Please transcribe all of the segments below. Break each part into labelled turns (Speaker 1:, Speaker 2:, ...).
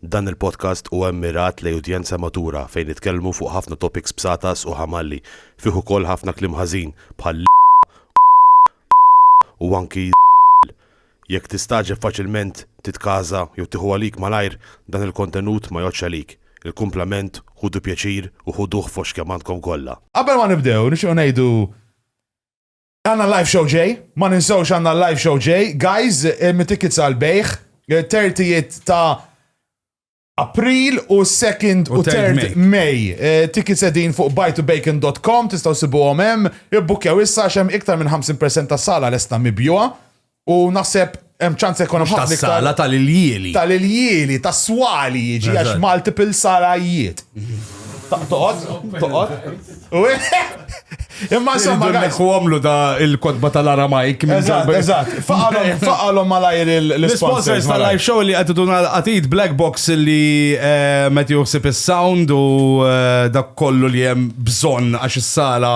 Speaker 1: Dan il-podcast huwa mmirat lejn udjenza matura fejn nitkellmu fuq ħafna topics bsatas u ħamalli, fih ukoll ħafna kliem ħażin bħal l, u anki z, jekk tistagħġeb faċilment titkaża jew tieħu għalik malajr dan il-kontenut ma jgħoddx għalik, il-kumplament ħudu pjaċir u ħuduh fost kemm għandkom kollha. Qabel ma nibdew nixtiequ
Speaker 2: ngħidu Għanna live show ġej, ma ninsewx għanna live show ġej. Guys, eh, mit-tickets għal-bejħ, 30 eh, ta' April u 2nd u 3rd May. Eh, tickets edin fuq buytobacon.com, tistaw sibu għomem, ibbukjaw issa xem iktar minn 50% ta' sala l-esta mibjuwa. U naħseb hemm ċans ikun hemm ħafna iktar. Sala tal-iljieli.
Speaker 3: Tal-iljieli,
Speaker 2: tas-swali jiġi għax multiple salajiet. Toqgħod, toqgħod. Imma insomma. Nekku għamlu da
Speaker 3: il-kodba tal-Aramajk. Eżatt, eżatt.
Speaker 2: Faqalom malajr l-sponsors tal-live show li għattu
Speaker 3: dun għatid Black Box li eh, meti juħsib il-sound u eh, dak kollu li jem bżon għax il-sala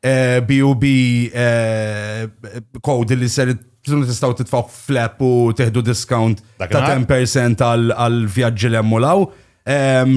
Speaker 3: BUB code li ser Tunu tistaw titfaw flap u teħdu discount ta' 10% għal vjaġġi l emmulaw.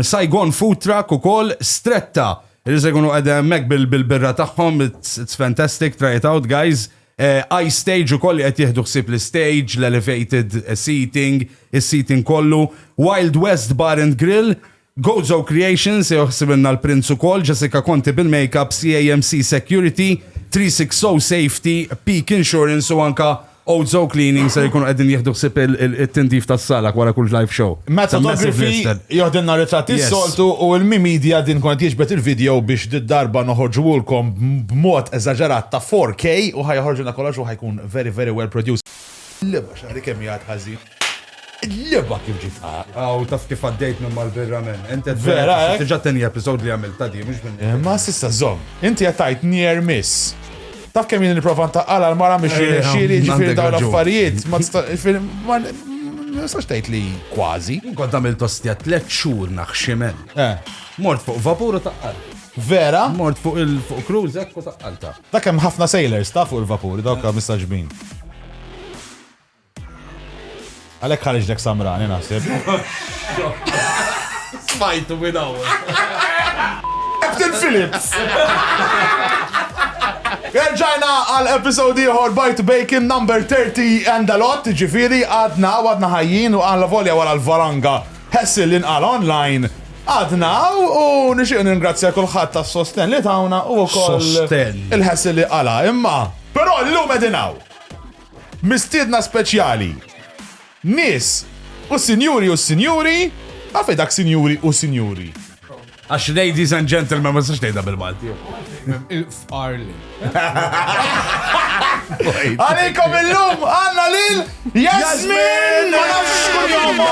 Speaker 3: Saigon food truck u kol stretta. Li se jkunu għedem mek bil-birra tagħhom, it's fantastic, try it out guys. Eh, I stage u koll qed jieħdu ħsieb l-stage, l-elevated seating, is-seating kollu. Wild West Bar and Grill, Gozo Creation se joħsibilna l-Prinz ukoll, Jessica Conti bil-makeup, CAMC Security, Three Six Zero Safety, Peak Insurance u anka Ozo Cleaning ser ikunu qegħdin jieħdu ħsieb it-tindif tas-sala wara kull live show. Matt Photography
Speaker 2: joħdilna ritratti s-soltu u Ilmi Media din tkun qed jiġbed il-video biex did-darba noħorġuhulkom b'mod eżaġerat ta' 4K u ħa joħorġilna kollox u ħa jkun very very well produced. L-imgħax għalik kemm hi għad ħażin. L-leba kif ġiet Aw, taf kif għaddejt
Speaker 3: minn mal-birra men. Enti Vera, eh? Tiġa teni
Speaker 2: episod li
Speaker 3: għamil ta' di, mux minn. Eh, ma sissa zom.
Speaker 2: Inti għattajt nier miss. Ta' kemm jien niprofa ntaqqala l-mara miex eh, jirnexxieli eh, ġifieri dawn l-affarijiet. Ma nistax tgħid li kważi. Kont għamil tostja
Speaker 3: tliet xhur naħximen. Mort fuq vapur u taqqal. Vera? Mort
Speaker 2: fuq il-fuq
Speaker 3: cruise u taqqalta. Ta' kemm ħafna sailors
Speaker 2: ta' fuq il-vapur, dawk mistaġbin. Għalhekk ħariġlek samrani naħseb.
Speaker 3: Smajtu minn hawn.
Speaker 2: Captain Phillips! Erġajna għal episodi ieħor Bite Bacon number 30 and a lot, ġifiri għadna għadna ħajjin u għalla volja wara l-varanga ħessil li nqal online. Għadna u nixtieq ningrazzja kulħadd tas-sosten li tawna u wkoll Sosten. il-ħessil li qala imma. Però llum qegħdin hawn. Mistiedna speċjali, Nies u sinjuri u sinjuri, taf hi dak sinjuri u sinjuri? Għax
Speaker 3: ladies and gentlemen ma nistax ngħidha bil-Malti. Il-fqar
Speaker 4: li. Għalikom
Speaker 2: illum għandna lil Jasmin! Ma nafx xkun jomma!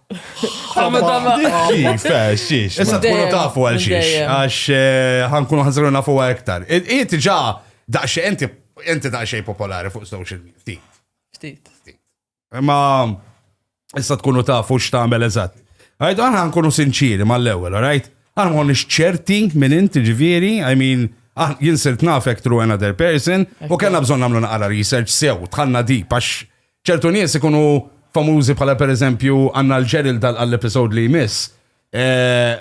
Speaker 2: Issa tkunu tafu
Speaker 3: għal xiex, għax eh, ħankunu ħanżru nafu għaktar. Iet ġa daqxie, enti enti daqxie popolari fuq social media. Ftit. Ftit. Ma issa tkunu tafu x'tagħmel eżatt. Għajt, għana ħankunu sinċiri mal-ewel, għajt? Għana għon ċerti minn inti ġviri, I mean, ah, jinsirt nafek through another person, u kena bżon namlu naqra research sew, tħanna di, pax Ċertu nies ikunu famużi bħala pereżempju għandna l-Gerald għall-episode li jmiss. Eh,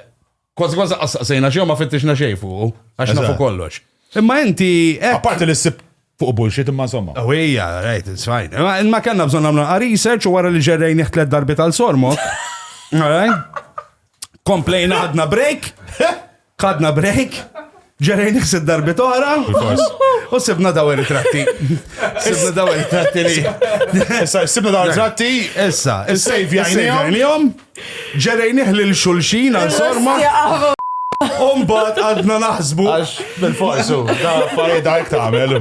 Speaker 3: kważi kważi qassaqsejna xi ma fittixna xejn fuq, għax nafu kollox. Imma inti. Eh, Apparti li ssib
Speaker 2: fuq bullshit imma somma. Awija, oh, right, it's
Speaker 3: fine. Ma kellna bżon għamlu research u wara li ġerrejn iħtlet darbi tal-sormok. Alright? Komplejna ħadna break, ħadna break, ġerejn iħsib darbit oħra. U sibna daw ritratti. Sibna daw ritratti li. Issa, sibna
Speaker 2: daw ritratti. Issa, is-sejf
Speaker 3: jgħinihom. Ġerejn iħli l-xulxin għal sorma. Umbat għadna naħsbu. Għax, bil-forsu,
Speaker 2: da fari da jek tamel.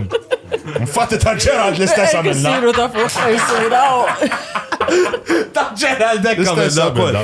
Speaker 2: Infatti ta' ġerad l-istess għamilna. Siru ta' fuq, siru
Speaker 5: ta' fuq.
Speaker 3: Ta' ġerad dek għamilna.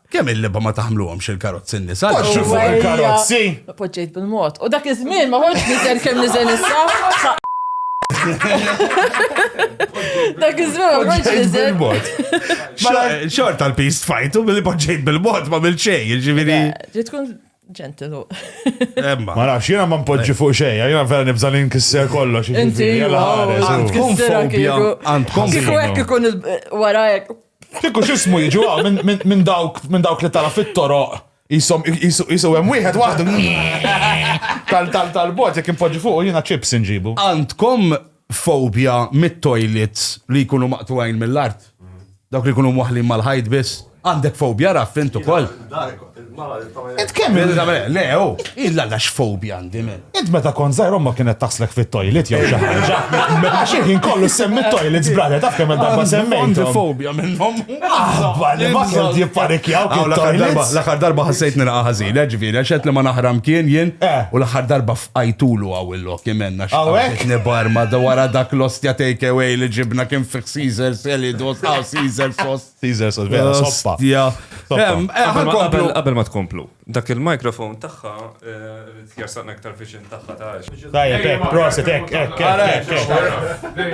Speaker 5: Kemm il-libha ma
Speaker 3: taħmluhomx il-karozzi n-nisa? Poġġu fuq il-karozzi!
Speaker 2: Poġġejt bil-mod.
Speaker 5: U dak iż-żmien ma ħodx niżel kemm niżel issa. Dak iż-żmien ma ħodx niżel.
Speaker 3: Xort tal-pist fajtu billi poġġejt bil-mod ma bil xej, ġifieri. Ġi tkun
Speaker 5: ġentilu. Emma.
Speaker 3: Ma nafx, jiena ma npoġġi
Speaker 2: fuq xej, jiena vera nibża li nkisser kollox. Inti,
Speaker 5: għandkom
Speaker 3: fobja. Għandkom fobja. Kieku hekk ikun
Speaker 5: warajek. Kieku x'ismu
Speaker 2: jiġu ah, minn- minn minn dawk minn dawk li tara fit-toroq jisom jisu hemm wieħed waħdu tal tal tal-bot jekk inpoġġi fuqu jiena chips inġibu. Għandkom
Speaker 3: fobja mit-toilets li jkunu maqtugħin mill-art? Dawk li jkunu mwaħħlin mal-ħajt biss? Għandek fobja Raff int ukoll?
Speaker 2: Int kemm le, oh,
Speaker 3: illa la xfobja għandi men. Int meta kon zaħir omma
Speaker 2: kienet taslek fit-toilet jew xi ħaġa. Għax jien kollu semmi toilet zbrada taf kemm darba semmejt. Għandi fobja
Speaker 3: minnhom. Aħba li ma
Speaker 2: kien jipparikjaw kien toilet. L-aħħar darba ħassejt nilqa'
Speaker 3: ħażin, ġifieri għax qed li ma naħram kien jien eh. u l-aħħar darba fqajtulu għaw il-lok jimenna x'għawek nibar
Speaker 2: ma wara
Speaker 3: dak l-ostja take away li ġibna kien fi Caesar Selidos, Caesar Sos. Caesar sot vera soppa.
Speaker 2: Ostja. Em,
Speaker 3: eh, Qabel ma- ħankomplu.
Speaker 6: qabel- Qabel ma tkomplu, dak il-mikrofon tagħha eh, jarsaq aktar viċin tagħha ta' għax. Tajjeb, ek, proset,
Speaker 2: ek, ek, Ara, ek, ek,
Speaker 6: ek.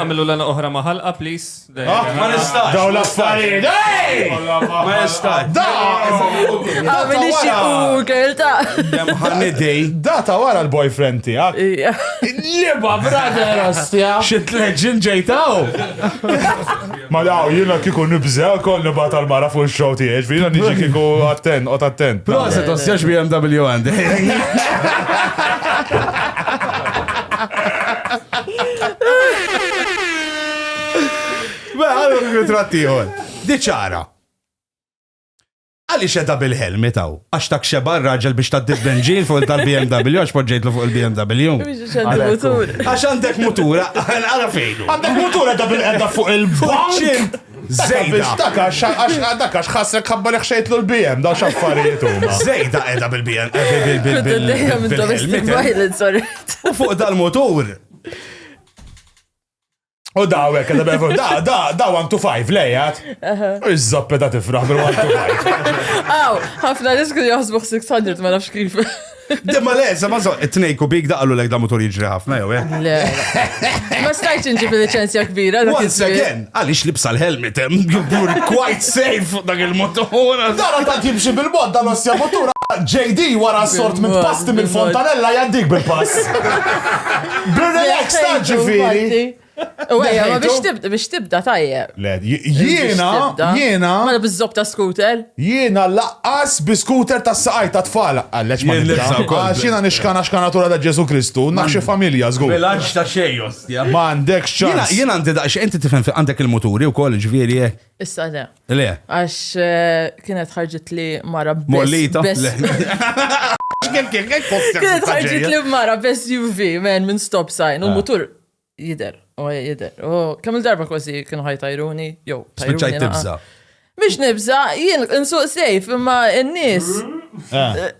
Speaker 6: Għamilu l oħra ma ħalqa, please. Ah, Ma nistax.
Speaker 3: Daw l-affarijiet.
Speaker 2: Ej!
Speaker 3: Ma nistax. Da!
Speaker 5: Għamili xie u kelta. Dem ħanidej.
Speaker 3: Da ta' wara
Speaker 2: l-boyfriend tiegħek. Liba, brother, ostja. Xit leġin
Speaker 3: ġejtaw.
Speaker 2: Mela, jiena kieku nibża' kont nibgħat għall-mara fuq ix-show tiegħi, jiġifieri jiena niġi kieku attent, qgħod attent. Proset għax jax
Speaker 3: BMW għandi. Mela, għallu l-ritratt ieħor. Diċara. Għaliex qiegħda bil-helmet hawn? Għax ta' xeba r-raġel biex ta' dibbenġin fuq tal-BMW għax poġġejtlu fuq il-BMW. Għax għandek mutura, għara fejn. Għandek mutura da bil-qedda
Speaker 2: fuq il-bank. Zejda.
Speaker 3: Daka xħasrek
Speaker 2: ħassek ħabba li ħxejtlu l-BM, da xaffarijiet huma. Zejda qiegħda bil-BM.
Speaker 5: Eh, U fuq
Speaker 3: dal-mutur.
Speaker 2: U daw hekk da bevu, da da da 1 to 5 lejat. Iż-żoppe da tifraħ bil 1 to 5. Aw, ħafna
Speaker 5: nies kienu jaħsbu 600 ma nafx kif. Demma le,
Speaker 3: sa ma so, it-tnej kubik da għallu lek da motor jiġri ħafna jew eh. Le.
Speaker 5: Ma stajtx inġib liċenzja kbira. dak Once iż-żmien. again,
Speaker 3: għaliex libsa l-helmet hemm, you're quite safe dak il-motor. Dara ta' jimxi
Speaker 2: bil-mod dan ossja motura. JD wara sort minn Bil-mod, pasti bil-mod. mill-fontanella jaddik bil-pass. B'relax ta' ġifiri. U għajja, ma
Speaker 5: biex tibda, biex tibda tajjeb. Le, jiena,
Speaker 2: jiena. Ma mela bizzob
Speaker 5: ta' scooter. Jiena laqqas
Speaker 2: bi scooter ta' saqaj ta' tfal. Għalleċ ma nibda. Għax jiena nixkana
Speaker 3: xkanatura
Speaker 2: ta' Ġesu Kristu, naħxi familja, zgur. Bilanċ ta' xejos,
Speaker 3: ja. Ma għandek
Speaker 2: ċans. Jiena għandi daqx, inti tifhem
Speaker 3: għandek il-moturi u koll ġviri. Eh. Issa le.
Speaker 5: Le. Għax
Speaker 3: eh,
Speaker 5: kienet ħarġit li mara bes. Mollita.
Speaker 3: Kienet
Speaker 5: ħarġit li mara bes UV, men, minn stop sign, u ah. mutur jider, u jider. U kemm il-darba kważi kienu ħaj tajruni, jow, tajruni. Spiċaj tibza.
Speaker 3: Mish nibza,
Speaker 5: jien nsuq sejf, imma n-nis. Ah. Eh.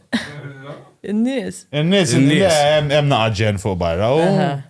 Speaker 5: In-nies. In-nies,
Speaker 2: hemm naqġen fuq barra.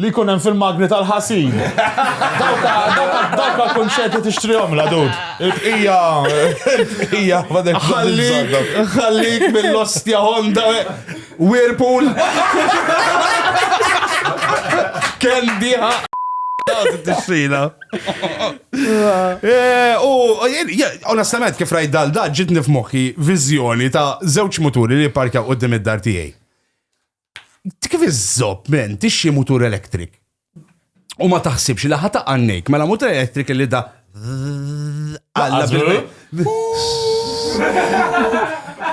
Speaker 2: Li jkun hemm fil-magni tal-ħasil. Dawk għall-kunċerti tixtrihom la dud. Il-bqija, il-bqija,
Speaker 3: ħallik mill-ostja Honda Whirlpool. Kendi Tixxina. Eh, u, onestament, kif rajt dal da ġitni f'moħħi viżjoni ta' żewġ muturi li parkjaw qudiem id-dar tiegħi. Kif iżżob men tixxi mutur electric u ma taħsibx li ħata għannejk, mela mutur electric li da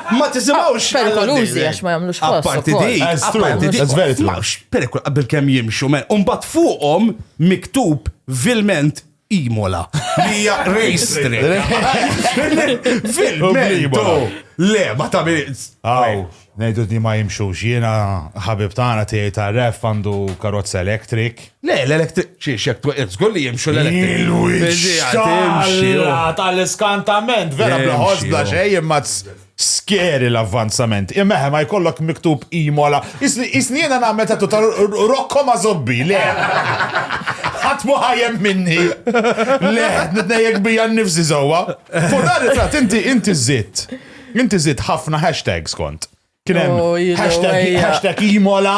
Speaker 3: Ma tisimawx. Perikolużi għax ma
Speaker 5: jagħmlux ħoss. Apparti dik, apparti
Speaker 3: dik. That's very
Speaker 2: true. Perikol qabel kemm
Speaker 3: jimxu men. Umbat fuqhom miktub vilment Imola. Li hija race track. Fil-Imola. Le, ma ta' Aw,
Speaker 2: nejdu di ma jimxux. Jiena ħabib tagħna tiegħi ta' ref għandu karozza elektrik. Le, l-elektrik.
Speaker 3: Xi xek żgur li jimxu l-elektrik. Il-wix.
Speaker 2: Tal-iskantament, vera bla ħoss bla xejn, imma Scary l-avvanzament. Imma ma jkollok miktub Imola. Isni jiena nagħmel ta' ta' Rocco ma' zobbi, le. Ħadd mu ħajem minni. Le, nitnejjek bija nnifsi sewwa. Fuq dan it-tratt inti inti żidt. Inti żidt ħafna hashtags kont. Kien hemm hashtag Imola,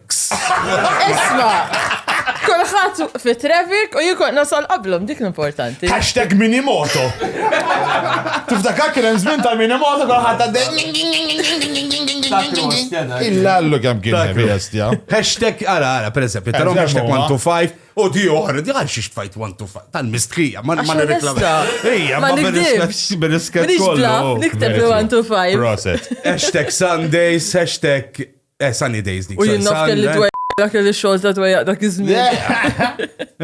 Speaker 5: Isma, kolħat fi traffic u jikon nasal qablom, dik l-importanti. Hashtag minimoto.
Speaker 2: Tiftakar kien hemm żmien tal-minimoto kolħat għaddej. Illa għallu kem kien bestja. Hashtag, għara,
Speaker 3: għara, per eżempju, tarom hashtag 125 u di oħra, di għal xiex fajt 125, tal-mistrija, ma ma nirreklama. Ija, ma
Speaker 5: nirreklamax bil-isket kollu. Nikteb 125. Proset. Hashtag
Speaker 3: Sundays, hashtag Eh, sunny days dik. U jien naf kelli eh. dwejjaq
Speaker 5: dak kelli xogħol ta' dwejjaq dak iż-żmien.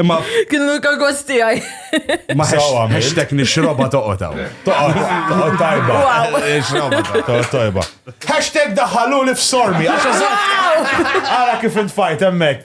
Speaker 5: Imma
Speaker 3: kienu l-kagos
Speaker 5: tiegħi. Ma
Speaker 3: ħextek nixroba toqgħod hawn. Toqgħod
Speaker 2: tajba. Nixroba toqgħod tajba. Hashtag daħalu li f'sormi. Għara kif intfajt hemmhekk.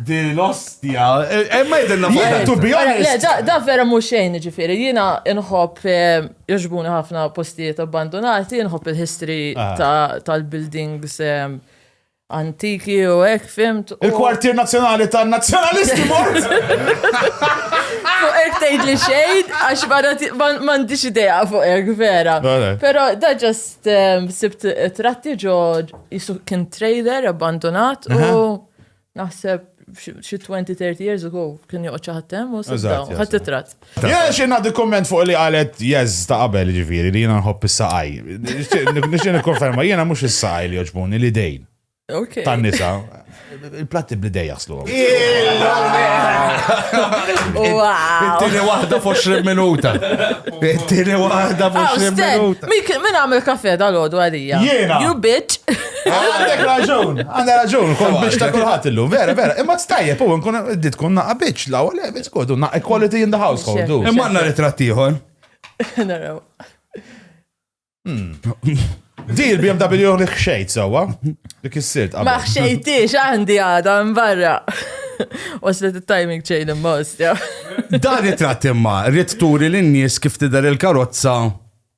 Speaker 3: Di l-ostja. Eh, eh, ma jidilna fuq to be honest.
Speaker 2: Da vera mux xejn
Speaker 5: ġifiri, jina nħob eh, joġbuni ħafna postijiet abbandonati, nħob il-history ah. tal-buildings antiki u ek fimt. Il-kwartier nazjonali
Speaker 2: ta' nazjonalisti mort!
Speaker 5: Fuq ek tgħid li xejn, għax m'għandix idea fuq ek vera. Pero da ġast sibt tratti ġo jisu kien trader abbandonat u Naħseb xi 20-30 years ago kien joqgħod xi ħadd hemm u sibdaw ħadd titrat. Jien xi nagħti
Speaker 2: kumment fuq li qalet jeż ta' qabel ġifieri li jiena nħobb is-saqaj. Nixtieq nikkonferma jiena mhux is-saqaj li joġbuni li dejn. Tan-nisa. Il-platti bl-idej jaslu.
Speaker 5: Tini wahda
Speaker 3: f'20 minuta. Tini wahda f'20 minuta. Min għamil kafe
Speaker 5: dal-ħodu għalija? Jena. You bitch.
Speaker 2: Għandek raġun, għandek raġun, kol biex ta' kulħadd illum, vera, vera. Imma stajjeb u nkun qed tkun naqa' biċ law, le, biss kodu naqa' equality in the household. Imma għandna ritratt ieħor.
Speaker 3: Naraw.
Speaker 2: Hmm. Di il-BMW li xejt sewwa, li kissirt qabel. Ma xejtix
Speaker 5: għandi għada mbarra. Waslet il-timing chain imma ostja. Dan ritratt
Speaker 3: imma, rrit turi l-nies kif tidher il-karozza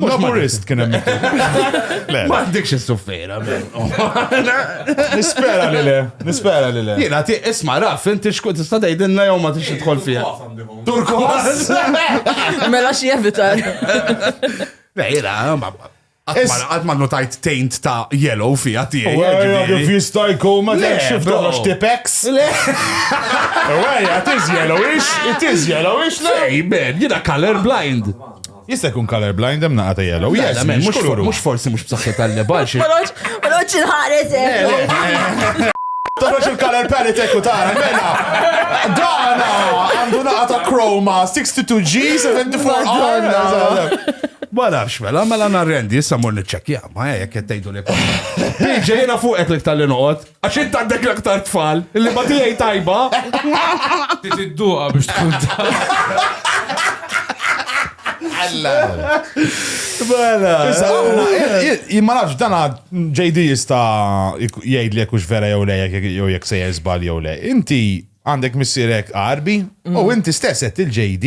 Speaker 2: Laburist kien hemm. Ma
Speaker 3: għandekx is-suffera.
Speaker 2: Nispera li le, nispera li le. Jiena ti
Speaker 3: isma' raf, inti xkun tista' tgħidilna jew ma tix tidħol fiha. Turkos.
Speaker 5: Mela xi evitar.
Speaker 3: Jiena, Għat ma notajt taint ta' yellow fija tijaj. Għajja, fista
Speaker 2: jkun ma t xifta għax tipex. Le. Għajja, it is yellowish, it is yellowish. Ej, ben, jina
Speaker 3: color blind. Jista' jkun
Speaker 2: color blind hemm naqa' ta' yellow. Le, Yes, le, mhux mhux kuluru. mhux forsi mhux
Speaker 3: b'saħħitha l-leba għal xi. Ma noqgħodx- ma noqgħodx
Speaker 5: inħares hekk.
Speaker 2: Tarax il-color palette ekku tara, mela. Dana għandu naqa ta' Chroma 62G 74R. Ma nafx mela,
Speaker 3: mela narrendi, issa mor niċċekkja, ma hekk qed tgħidu li kollha. Jiġi jiena fuqek li tal-li noqgħod. Għax int għandek l-aktar tfal, li ma tijaj tajba.
Speaker 4: Tidduqa biex tkun ta' Alla.
Speaker 2: Bala. Imma nafx dana JD jista jgħid li jekux vera jew le jew jek se jizbal jew le. Inti għandek missirek arbi u inti stess qed il-JD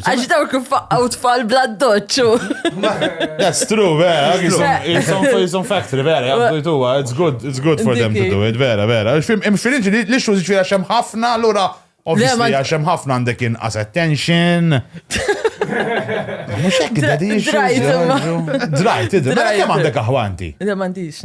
Speaker 3: Għax daw kif faqqaw
Speaker 5: tfal bla doċċu. That's
Speaker 2: true, vera. It's on factory, vera. Għabdujtu, it's good, it's good for them to do it, vera, vera. Hemm xfilinġi li l-issues ġvira xem ħafna, l-ura, obviously, għaxem ħafna għandek inqas attention. Mux hekk id-daddy Drajt, id Mela kemm għandek aħwanti? Le m'għandix.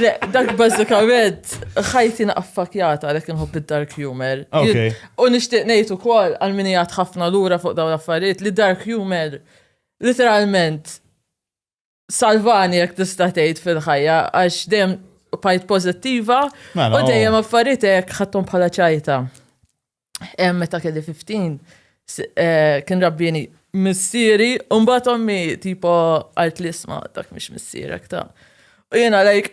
Speaker 2: Le,
Speaker 5: dak bazzikament, ħajti naqfakjata għalek nħobb id-dark humor. Okay. U nishtiq nejtu kol għal-minijat ħafna l-ura fuq daw l-affarijiet li dark humor literalment salvani jek tista' tgħid fil-ħajja għax dejjem bajt pozittiva mela, u dejjem oh. affaritek ħattom bħala ċajta. meta kelli 15, eh, kien rabbini missieri, un bat ommi tipo għalt li isma dak mish missierek ta' U jena lajk,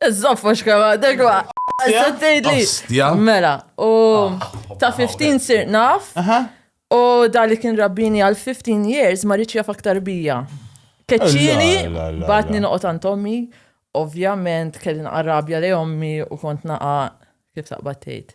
Speaker 5: iż-zoffa xkema, degwa, s-sattejli. Mela, u ah, ta' 15 sir naf, u da li kien rabbini għal 15 years ma rridx jaf aktar bija. Keċċini, batni noqot għand ommi, ovvjament kelli naqarrabja li ommi u kont naqa kif taqbattejt.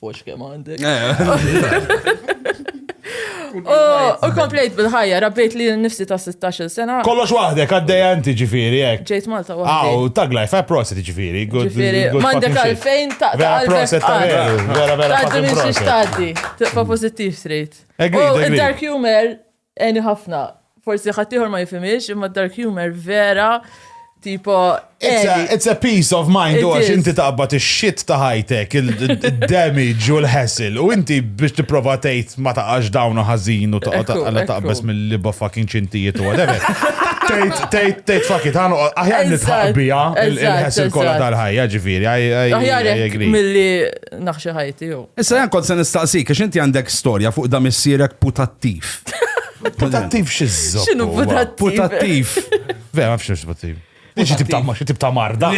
Speaker 5: Fux kemm għandek. U komplejt bil-ħajja, rabbejt li nifsi ta' 16 sena. Kollox waħdek, għaddej
Speaker 2: għanti ġifiri, jek. Ġejt Malta waħdek. Aw,
Speaker 5: tag life, għaj prosit
Speaker 2: ġifiri. Ġifiri, mandek
Speaker 5: għalfejn ta' għalfejn. Vera prosit ta' veru,
Speaker 2: vera vera prosit. Taddi minn xiex
Speaker 5: taddi, tibqa pozittiv straight. Id-dark humor Għeni ħafna. Forsi ħaddieħor ma jifhimhiex, imma d-dark humor vera tipo għeni. It's
Speaker 2: a peace of mind u għax inti taqbad ix-shit ta' ħajtek, il-damage u l-hassle u inti biex tipprova tgħid ma taqax dawnu ħażin u taqgħod taqbeż mill-liba fucking ċintijiet u whatever. Tejt, tejt, fakit, għanu, aħjar nitħaqbija il-ħessil kolla tal-ħajja, ġifiri, I agree.
Speaker 5: Mill-li naħxi ħajti jew. Issa jen kont se nistaqsik
Speaker 3: għax inti għandek storja fuq da missierek putattiv. Putattiv
Speaker 2: xizzo. Xinu putattiv?
Speaker 5: Putattiv.
Speaker 3: Vera, ma fxiex
Speaker 2: putattiv. Diġi tib ta' marda.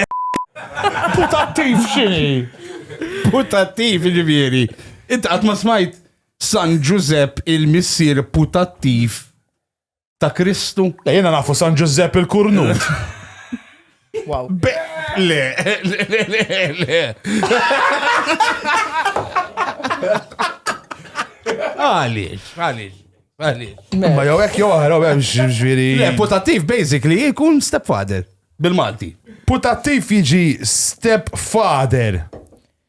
Speaker 2: Putattiv xini? Putattiv,
Speaker 3: ġivieri. Inti għat ma smajt San Giuseppe il-missier putattiv ta' Kristu. Le jena nafu San
Speaker 2: Ġużepp il-Kurnut.
Speaker 5: Wow. Be, le, le,
Speaker 3: le, le, le. Għalix, għalix, għalix.
Speaker 2: Ma jew hekk jew oħra hemm ġifieri. Le, putativ
Speaker 3: basically jkun stepfather bil-Malti. Putattiv
Speaker 2: jiġi stepfather.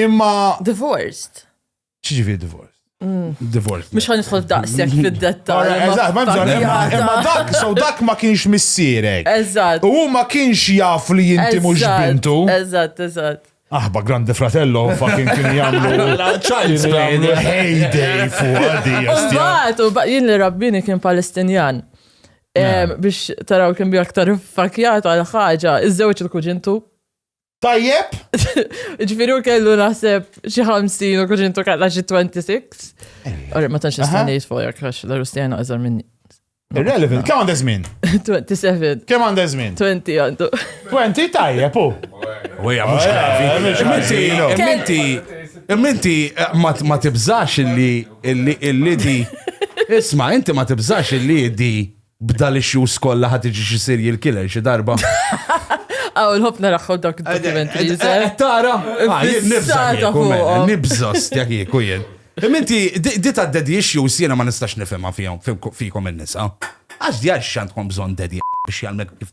Speaker 2: Imma. Divorced.
Speaker 5: Ċiġivi
Speaker 2: divorced? Mm. Divorce.
Speaker 3: Mux għan nidħol
Speaker 5: daqsek fil-dettal. Eżat, ma bżon,
Speaker 2: imma dak, so dak ma kienx missirek. Eżat. U ma
Speaker 5: kienx
Speaker 2: jaf li jinti mux bintu. Eżat, eżat.
Speaker 5: Aħba Grande
Speaker 2: Fratello fucking kien jagħmlu Child's Play
Speaker 3: heyday fuq
Speaker 2: għadi. Mbagħad u
Speaker 5: jien li rabbini kien Palestinjan. Biex taraw kien bi aktar fakjat għal ħaġa, iż-żewġ il-kuġintu Tajjeb? Ġifieri u kellu naħseb xi 50 u kuġintu kellha xi 26. Ora ma tantx nista' ngħid fuq jekk għax l-Rustjana iżgħar minni. Irrelevant, kemm
Speaker 2: għandha żmien? 27. Kemm
Speaker 5: għandha żmien?
Speaker 2: 20 għandu.
Speaker 5: 20 tajjeb
Speaker 2: u. Wejja, mhux
Speaker 3: gravi. Minti, minti ma tibżax illi illi di. Isma, inti ma tibżax illi di B'dal issues kollha ħa tiġi xi serial killer xi darba. Aw,
Speaker 5: nħobb naraħħu dak il-documentary. Tara,
Speaker 3: nibża stja kieku jien. Minti, di ta' daddy issues jiena ma nistax nifhimha fihom fikom in-nisa. Għax di għax x'għandkom bżonn daddy biex jgħalmek kif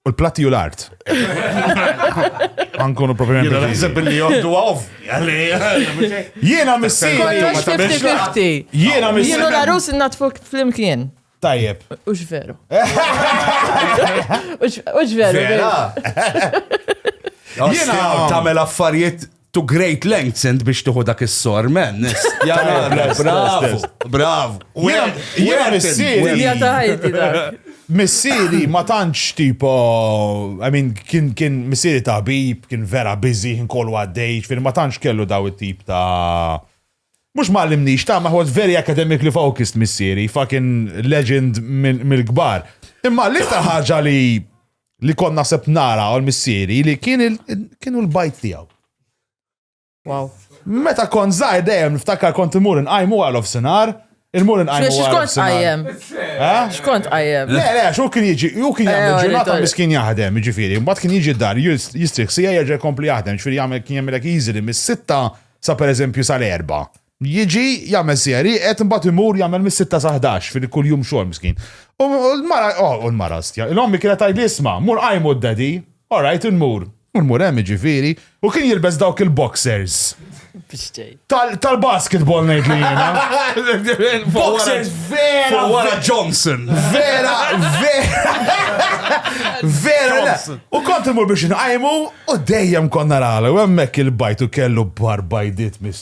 Speaker 2: U l-platti u l-art. Għankunu propju Jena naħseb li joddu
Speaker 3: għaw.
Speaker 2: Jena missi. Jena missi.
Speaker 5: Jena
Speaker 2: narus natfu
Speaker 5: fl-imkien. Tajjeb.
Speaker 2: Ux veru.
Speaker 5: Ux veru.
Speaker 3: Jena tamel affarijiet to great lengths int biex tuħu dak is-sor, man. Bravo, bravo. Jena
Speaker 2: missieri.
Speaker 5: Missieri ma
Speaker 2: tantx tipo, I mean, kien kien missieri ta' bib, kien vera busy, kien kollu għaddej, fil ma tantx kellu daw it-tip ta' Mux ma għallimnix ta' ma was very academically focused missieri, fucking legend mill-gbar. Imma l-iktar ħaġa li li kont naħseb nara għal missieri li kienu l-bajt tiegħu.
Speaker 5: Wow. Meta
Speaker 2: kont zaħi dejjem niftakar kont imur inqajmu għal of sinar, il-mur inqajmu għal. Xkont għajem?
Speaker 5: Xkont għajem? Le, le, xu kien jiġi,
Speaker 2: ju kien jgħamil eh, ġurnata mis kien jahdem, ġifiri, mbat kien jiġi dar, jistrix sija jgħagġa kompli jahdem, ġifiri jgħamil kien jgħamil easy li mis-sitta sa per eżempju sal-erba, Jiġi, jagħmel siegħer ieqed, imbagħad imur jagħmel mis-sitta sa ħdax fi kull jum xogħol miskin. U l-mara, u l-mara stja, l-ommi kienet tgħidli isma', mur qajmu d-daddy, all right, immur. U mmur hemm jiġifieri, u kien jilbes dawk il-boxers. Tal-basketball ngħidlu jiena. Boxers vera. Wara Johnson.
Speaker 3: Vera, vera.
Speaker 2: Vera. U kont imur biex nqajmu u dejjem konna nagħlgħu hemmhekk il-bajt u kellu barbajdit mis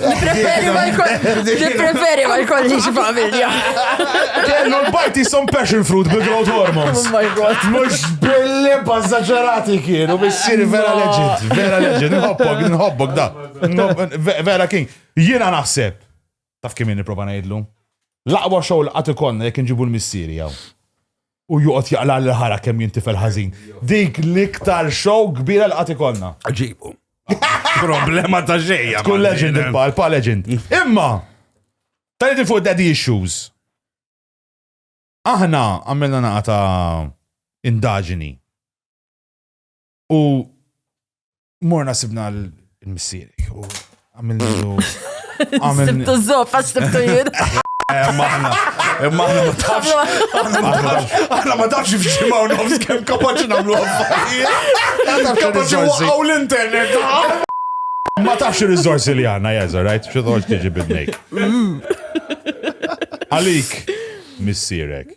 Speaker 5: Nipreferi ma jkollix familja. Kellu
Speaker 2: l-bajti some passion fruit bi growth hormones. Oh my god. Mux
Speaker 5: billi
Speaker 2: bazzaġerati kienu bissiri vera legend. Vera legend. Nħobbok, nħobbok da. Vera king. Jina naħseb. Taf kim niprofa najdlu? Laqwa xow laqat ikonna jek nġibu l-missiri jaw. u joqgħod jaqla l-ħara kemm jintifel ħażin. Dik l-iktar show kbira l-qati konna. Ġibu.
Speaker 3: Problema ta' xejja. Kull legend il-pa, il-pa
Speaker 2: legend. Imma, tal li fuq daddy issues. Aħna għamilna naqa ta' indaġini. U morna sibna l-missierek u għamilnu.
Speaker 5: Sibtu zop, għax sibtu jien. Maħna,
Speaker 2: maħna ma tafx. Aħna ma tafx fġimaw nofs kem kapaċi namlu għaffarijiet. Kapaċi waqaw l-internet. Ma tafx il-rizorsi li għanna, jazza, right? Xo toħġ tiġi bil-nejk. Għalik, missierek.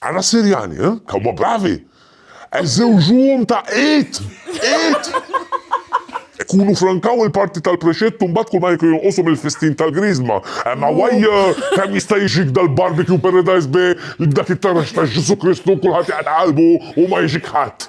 Speaker 7: Ara s-Sirjani, eh? Kemm huma bravi! Qed żewġuhom ta' id! Id! Ikunu frankaw il-parti tal-prexett u mbagħad kull ma jkun jonqosu mill-fistin tal-Griżma. Imma waj kemm jista' jiġik dal-barbecue paradise bi dak it-taraġ ta' Ġesù Kristu kulħadd jaqta' qalbu u ma jiġik ħadd.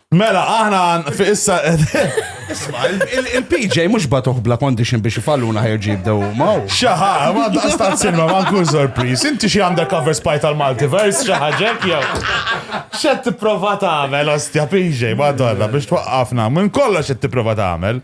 Speaker 2: Mela, aħna fi issa. Isma, il-PJ
Speaker 3: mux batuħ bla condition biex ifalluna ħerġi jibdew ma. Xaħa, ma
Speaker 2: daqstat silma, ma nkun sorpriz. Inti xie undercover spy tal-multiverse, xaħġek jew. Xed t-prova ta' għamel, ostja PJ, ma donna biex twaqqafna. Minn kollox xed t-prova ta' għamel.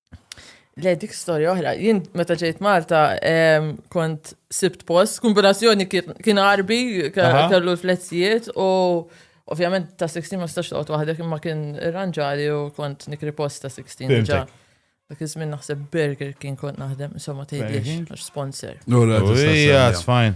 Speaker 2: Le
Speaker 5: dik storja oħra, jien meta ġejt Malta kont sibt post, kombinazzjoni kien arbi, kellu l-flezzijiet u ovvjament ta' 16 ma stax toqgħod waħdek imma kien irranġali u kont nikri post ta' 16 ġa. Dak iż-żmien naħseb Burger kien kont naħdem, insomma tgħidlix għax sponsor. Ija, it's
Speaker 2: fine.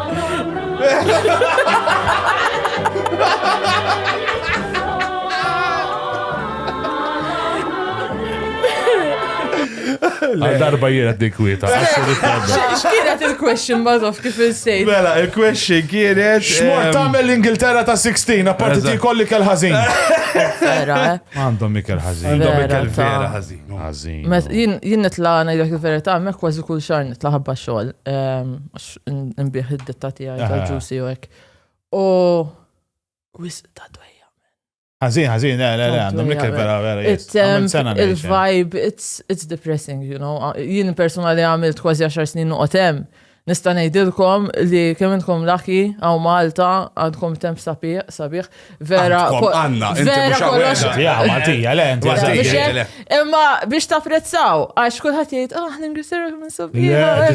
Speaker 2: Għal darba jiena dik kwieta.
Speaker 5: X'kienet il-question bazof kif il-sejt? Mela, il-question
Speaker 2: kienet. Xmor ehm, tagħmel l-Ingilterra ta' 16, apparti ti kolli kell ħażin. Vera,
Speaker 5: eh? Għandhom ikel
Speaker 2: ħażin. Għandhom ikel vera
Speaker 3: ħażin. Ħażin.
Speaker 2: Jien nitla' ngħidlek
Speaker 5: il-verità, hemmhekk kważi kull xahar nitla' ħabba xogħol. Ehm, nbieħ id-ditta tiegħi ta' ġusi u hekk. U wis ta' dwejja. Ħażin,
Speaker 2: ħażin, le, le, le, għandhom l-iktar vera, vera. Um,
Speaker 5: il-vibe, it's depressing, you know. Jien personali għamilt kważi 10 snin noqgħod hemm. Nista' ngħidilkom li kemm intkom laki għaw Malta għandkom temp sabiħ, Vera, għanna, vera
Speaker 3: kollox.
Speaker 5: Ja, Maltija, le,
Speaker 2: Maltija. Imma
Speaker 5: biex tapprezzaw, għax kullħat jgħid, ah, ningrisiru minn subija.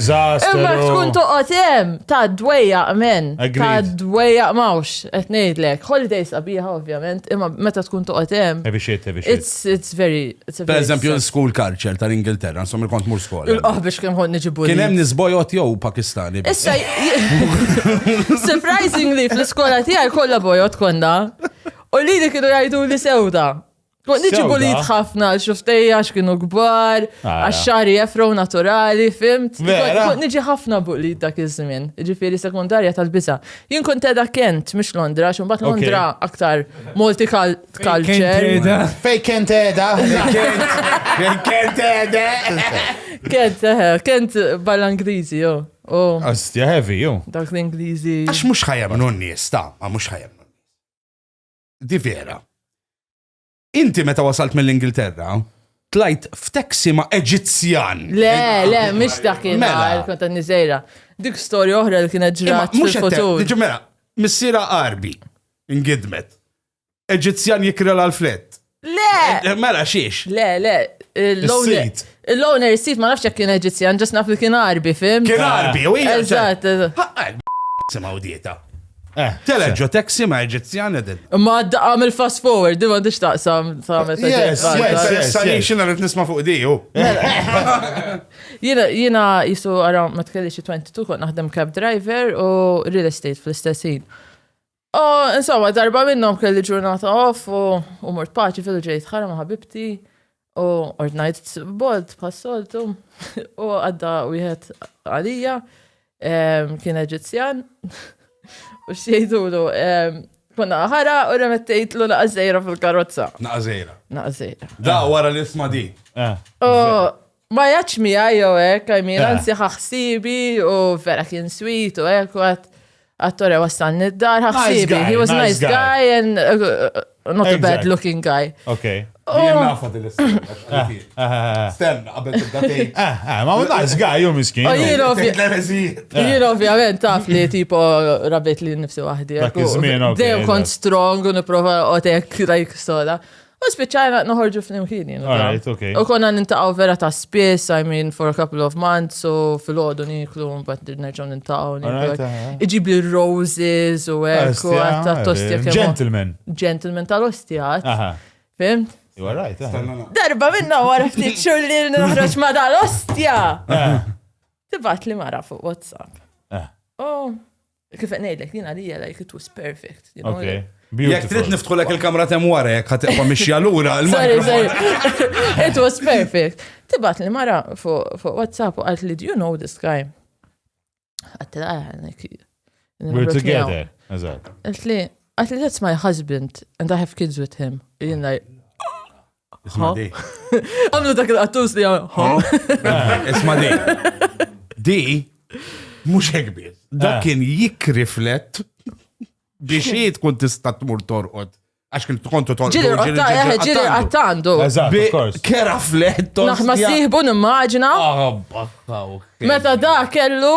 Speaker 5: Imma
Speaker 2: tkun toqgħod
Speaker 5: hemm ta' dwejja men, ta' dwejja mawx, qed ngħidlek. Holidays qabiħa ovvjament, imma meta tkun toqgħod hemm. Ebixit, ebixit. It's very, it's a Per very eżempju, sad- l-school
Speaker 3: culture tal-Ingilterra, insomma, il kont mur skola. Il-qoħ biex kemm ħod niġibu.
Speaker 5: Kien hemm nisbojot jew
Speaker 3: Pakistani. biss. Issa,
Speaker 5: surprisingly, fl-iskola tiegħi kollha bojot konna. U li li kienu jgħidu li sewda. Kont niġibu Sewda? li ħafna għal xuftej għax kienu kbar, Ara. għax xari jefrow naturali, fimt. Vera? Kont niġi ħafna buq li dak iż-żmien, ġifieri sekundarja tal-biża. Jien kont edha Kent, mhux Londra, għax imbagħad Ok. Londra aktar multikal tkalċer. Fej kent edha.
Speaker 2: Fej kent edha.
Speaker 5: Kent, eh, kent bħala Ingliżi, jo. Oh. Astja heavy,
Speaker 2: jo. Dak l-Ingliżi.
Speaker 5: Għax mux ħajem non
Speaker 3: nies, ta' ma mux ħajem non Di vera. Inti meta wasalt mill-Ingilterra, tlajt f'taxi ma' Eġizzjan. Le, le, mux
Speaker 5: dak il-mar, mela. konta nizera. Dik storja oħra li kienet ġrat. Mux fil-futur. Mela,
Speaker 3: missira Arbi, ingidmet. Eġizzjan jikrela l-flett. Le! Eh, mela
Speaker 5: xiex? Le,
Speaker 3: le.
Speaker 5: Is-sid. Il-owner is-sid ma nafx jekk kien Eġizzjan, ġas naf li kien Arbi, fim? Kien Arbi, u hija.
Speaker 3: Eżatt,
Speaker 5: eżatt.
Speaker 3: Simaw dieta. Eh, Teleġo taxi ma Eġizzjan edin. Ma għamil fast
Speaker 5: forward, di ma dix taqsam ta' meta Yes, yes, sani
Speaker 3: xina rrit nisma fuq diju. Jina,
Speaker 5: jina jisu għara ma tkelli xie 22 kont naħdem cab driver u real estate fl-istessin. O, insomma, darba minnom kelli ġurnata off u, u mort paċi fil ġejt ħara ma' ħabibti u ordnajt bolt passoltu u għadda wieħed għalija em, kien Eġizzjan u xejdulu em, konna ħara u remettejtlu naqażejra fil-karozza. Naqazejra. Naqażejra. Da, wara li
Speaker 3: isma di. Eh. U
Speaker 5: Ma jgħadx miegħi jew hekk, I mean, anzi ħaħsibi u vera kien sweet u hekk u għat attore wassalni d-dar ħaħsibi. He was nice guy and uh, not a bad looking guy. Okay. Jien nafa
Speaker 3: din l-istorja. Sten, qabel tibda tgħid. Ma hu nice
Speaker 2: guy jew miskin.
Speaker 5: Jien ovvjament taf li tipo rabet li nifsi waħdi. Dejjem
Speaker 2: kont strong u
Speaker 5: nipprova otek like soda. U spiċċajna noħorġu flimkien jien. Alright, okay. U
Speaker 2: konna nintaqgħu vera
Speaker 5: ta' spiss, I mean, for a couple of months, so fil-ħodu niklu, mbagħad nerġgħu nintaqgħu. Alright, aha. Iġib li roses u hekk, u Ostja, għatta għara, tostja kemm. Gentleman. Gentleman
Speaker 2: tal-ostjat,
Speaker 5: Aha. fimt?
Speaker 2: You
Speaker 5: are right, aha. Stanna
Speaker 2: na- Darba minna
Speaker 5: wara ftit xhur li noħroġ ma dal-ostja. Ah, Tibat li mara fuq WhatsApp. ah. Oh, Kif qed ngħidlek, din għalija like it was perfect. you know, Okay. like- Jekk trid Beautiful.
Speaker 2: niftħu lek
Speaker 3: il-kamra temm wara jekk ħad tibqa' mixja lura. il- Sorry, sorry.
Speaker 5: It was perfect. Tibat li mara fuq fuq WhatsApp u għalt li do you know this guy? Għatti la għanek.
Speaker 2: We're together. Eżatt. Għalt li, għalt
Speaker 5: li that's my husband and I have kids with him. Jien like,
Speaker 3: Isma di. Għamlu dak
Speaker 5: il-qattus li għamlu. Ho?
Speaker 3: Isma di. Di, mux ekbir. Dak eh. kien jikriflet biex jie tkun tista tmur torqod. Għax kien tkontu torqod. Ġiri għatta, eh, ġiri
Speaker 5: għatta għandu.
Speaker 2: Kera flet.
Speaker 3: Naħma siħbu
Speaker 5: nimmaġina. Ah, Meta da kellu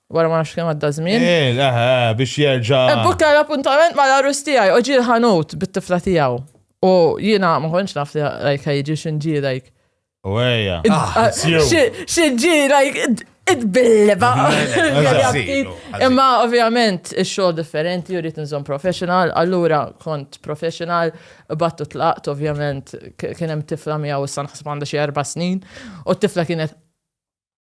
Speaker 5: Wara ma nafx kemm għadda żmien. Eh, eh, eh biex
Speaker 2: jerġa'. Ebbuka l-appuntament
Speaker 5: ma l-arus tiegħi u ġiel ħanut bit-tifla tiegħu. U jiena ma konċ naf li like jiġi xinġi like. U
Speaker 2: ejja. Ah,
Speaker 5: xinġi like id-billeba. Imma ovvjament ix-xogħol differenti u rrid nżomm professional, allura kont professional, battu tlaqt ovvjament kien hemm tifla miegħu issa naħseb għandha xi erba' snin u t-tifla kienet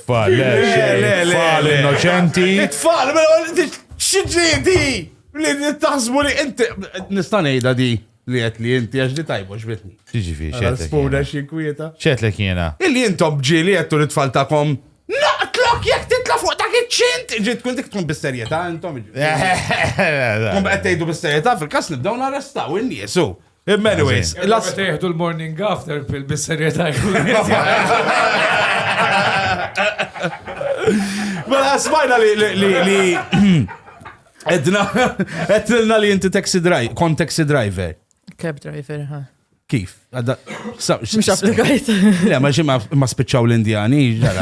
Speaker 2: Tfal, le, tfal innoċenti.
Speaker 3: Tfal, xidġieti! Li taħsbu li inti. Nista' ngħidha di li qed li inti għax li tajbu xbitni. Ġiġifi, xetlek. Spuna
Speaker 2: xi
Speaker 3: kwieta. Xetlek jiena.
Speaker 2: Illi intom ġieli
Speaker 3: qed li tfal tagħkom. Naqtlok jekk titla' fuq dak iċ-ċint! Ġiet tkun dik tkun bis-serjetà intom. Kum qed tgħidu bis-serjetà fil-każ nibdew narrestaw in-niesu. Imma anyways. Illa meta jieħdu
Speaker 4: l-morning after pill bis-serjetà
Speaker 3: Mela smajna li li Edna, edna li jinti taxi driver, kon taxi driver. Cab driver,
Speaker 5: ha. Kif? Mux applikajt. Le, ma ximma
Speaker 3: ma spiċċaw l-Indjani, ġara.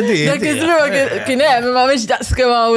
Speaker 3: Dak
Speaker 5: id-drog kien hemm, ma mhix daqs kemm hawn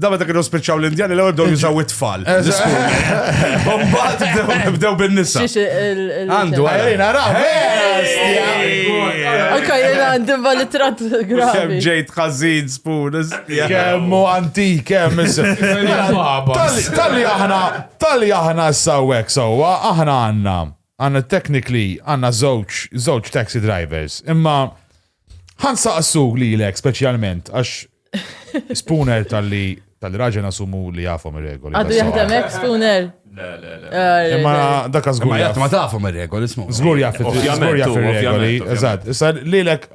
Speaker 3: Da meta kienu spiċċaw l-Indjani l-ewwel bdew jużaw it-tfal. Mbagħad bdew bin-nisa. Għandu għalina raw.
Speaker 5: Anka jena għandi valitrat gravi. Kemm ġejt
Speaker 3: ħażin spun. Kemm u antik,
Speaker 2: kemm Talli aħna, talli aħna s-sawek sewwa, aħna għandna għandna technically għandna żewġ żewġ taxi drivers. Imma Ħan saqsu lilek speċjalment għax Spooner tal-li tal-raġel nasumu li jafhom ir-regoli. Għadu jaħdem hekk
Speaker 5: Spooner.
Speaker 2: Imma dak żgur. Ma jaf ma tafhom ir-regoli
Speaker 3: ismu. Żgur jaf żgur
Speaker 2: jaf ir-regoli. Eżatt. Issa
Speaker 6: lilek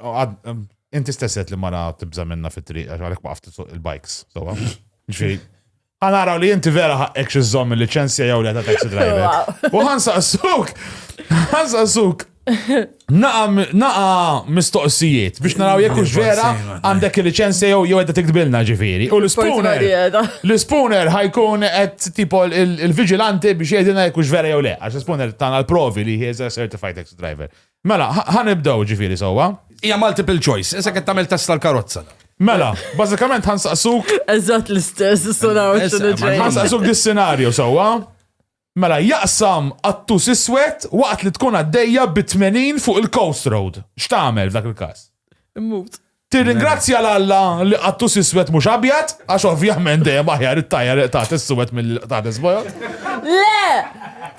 Speaker 2: inti stesset li mara tibża minna fit-triq għalhekk ma il-bikes. Ġifieri Ħa naraw li inti vera ħaqqek xi żomm il-liċenzja jew le ta' taxi driver. U ħan saqsuk, ħan saqsuk Naqa mistoqsijiet biex naraw jekk hux vera għandek il-liċenzja jew jew qed tiktbilna ġifieri. U l-ispuner. L-ispuner ħajkun qed tipo il-viġilanti biex jgħidilna jekk hux vera jew le. Għax l-ispuner tagħna l-provi li he's a certified ex driver. Mela, ħa nibdew ġifieri sewwa. Hija multiple choice,
Speaker 3: isek qed tagħmel test tal-karozza. Mela,
Speaker 2: bażikament ħansaqsuk. Eżatt l-istess,
Speaker 5: sunaw Ħansaqsuk
Speaker 2: dis-senarju sewwa. Mela, jaqsam attus iswed waqt li tkun għaddejja bi 80 fuq il-Coast Road. X'tagħmel f'dak il-każ? Immut.
Speaker 5: Tirringrazzja 'l
Speaker 2: Alla li qattus iswed mhux abjad, għax ovvjament dejjem aħjar it-tajja li qtgħet is-suwed milli li qtgħet is-bojod. Le!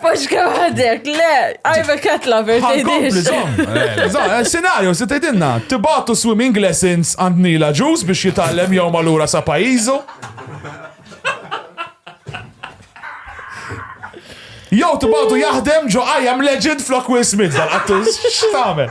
Speaker 5: Paxka waħdek, le! I'm a cat lover, Ħankompli, tgħidix. żomm. Eh, żomm, eh,
Speaker 2: Sinarju, se tgħidilna, tibgħatu swimming lessons għand Nila Ġus biex jitgħallem jew malura sa pajjiżu. Jew tibgħatu jaħdem ġo I am legend flok Will Smith dal-qattus. X'tagħmel?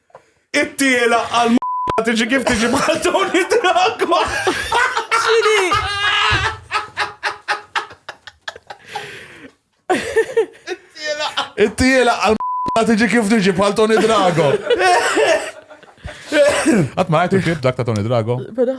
Speaker 3: It-tiela għal ma tiġi kif tiġi bħal Tony Drago. Xini?
Speaker 2: It-tiela għal ma tiġi kif tiġi bħal Tony Drago. Għat ma għajtu kif dak ta' Tony Drago.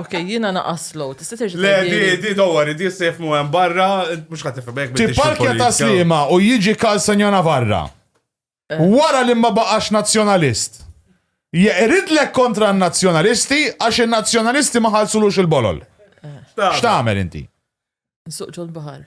Speaker 5: Ok, jiena naqas slow, tista' terġa' Le, di, tgħidili? di, don't worry,
Speaker 3: di se jifmu hemm barra, mhux ħadd tifhem hekk biddix Tipparkja ta' fil-politika. Sliema
Speaker 2: u jiġi Carl Senja Navarra. Wara li ma baqax Nazzjonalist. Jeqridlek kontra n-Nazzjonalisti għax in-Nazzjonalisti ma ħallsulux il-bolol. X'tagħmel inti? Nsuq
Speaker 5: ġol-baħar.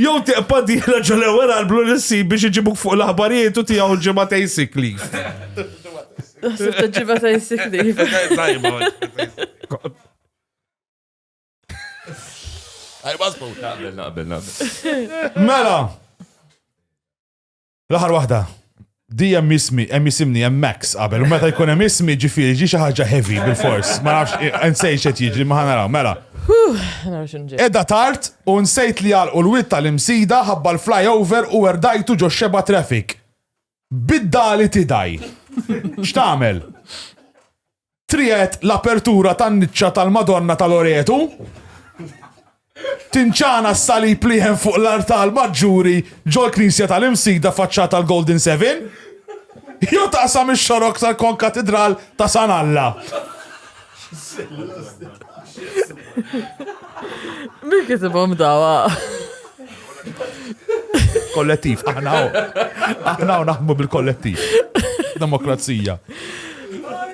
Speaker 5: Jew
Speaker 3: tiqpa' dieħla ġo l-ewwel albru li ssib biex iġibuk fuq l-aħbarijiet u tiegħu l-ġimgħatejn sick leave. Ħsibt
Speaker 5: il-ġimgħatejn
Speaker 2: sick leave. Mela. L-aħħar waħda, di hemm ismi, hemm isimni hemm Max qabel, u meta jkun hemm ismi ġifieri ġi xi ħaġa heavy bil-fors, ma nafx insejx qed jiġri ma ħanaraw, mela. Edda tard u nsejt li għalqu l-wit tal-imsida ħabba l-flyover u erdajtu ġo xeba traffic. Bidda li tidaj. X'tagħmel? Triet l-apertura tan-niċċa tal-Madonna ta' Loretu. Tinċana s-salib li hemm fuq l-artal maġġuri ġol-Knisja tal-Imsida faċċata l-Golden Seven. Jew taqsam ix-xorok tal-Konkatidral ta' San Alla.
Speaker 5: Min kitibhom dawa?
Speaker 2: Kollettiv, aħna aħna naħmu bil-kollettiv. Demokrazija.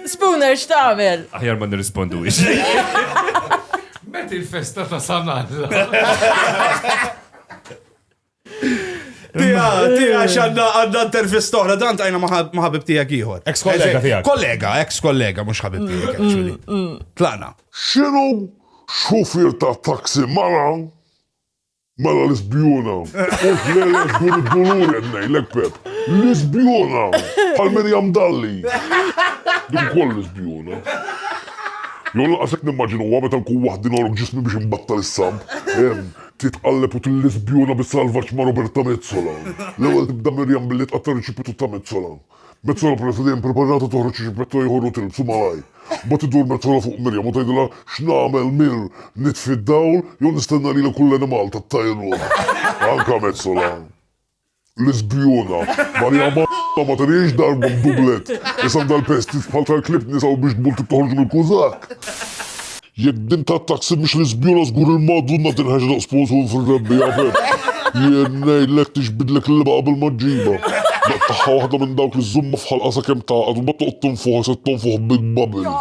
Speaker 5: Spooner, x'tagħmel? Aħjar ma nirrispondu
Speaker 4: Met il-festa ta' sanal.
Speaker 3: Tija, tija, xanna għadda intervista oħra, dan tajna maħabib tijak iħor. Ex kollega tijak. Kollega,
Speaker 2: ex kollega, mux ħabib
Speaker 3: mm, tijak, mm, actually. Mm. Tlana. Xinu
Speaker 7: xufir ta' taksi mara Mela l-isbjuna, u tlele dur id-dulur qed ngħidlek Pep. L-isbjuna, bħal Mirjam Dalli. Dik ukoll l-isbjuna. Jew laqasek nimmaġinuha meta nkun waħdi norok ġismi biex imbattal is-samb. Hemm, titqalleb u tillisbjuna bis-salvaġġ ma' Roberta Mezzola. L-ewwel tibda Mirjam billi tqatta' riċipitu ta' Mezzola. Metzola peress li dejjem preparata toħroġ xi ġibbetto ieħor u tilbsu malajr. Mbagħad iddur Metzola fuq Miriam u tgħidilha x'nagħmel mir nitfi d-dawl jew nistenna lili kull animal tat-tajrun. Anka Metzola. L-isbjuna. Marija Malla ma tenhiex darba b'dublett. Isandha l-pest id bħal tal-klieb nisa u biex tbul trid toħorġu mill-kużakk. Jekk din ta' taxi mhix l-iżbjula żgur il-Madunna tinħeġ daqs posun fir-rebbiegħa f'hekk. Jien ngħidlek tixbidlek il-libgħa qabel ma ġġibha. Daqq tagħha waħda minn dawk li żżommha f'ħalqha sakemm tagħqad u mbagħad toqgħod tonfuħha se tonfuħ big bubble.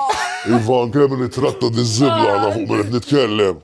Speaker 7: Iva anke min ittratta diż-żibla għadha fuq min qed nitkellem.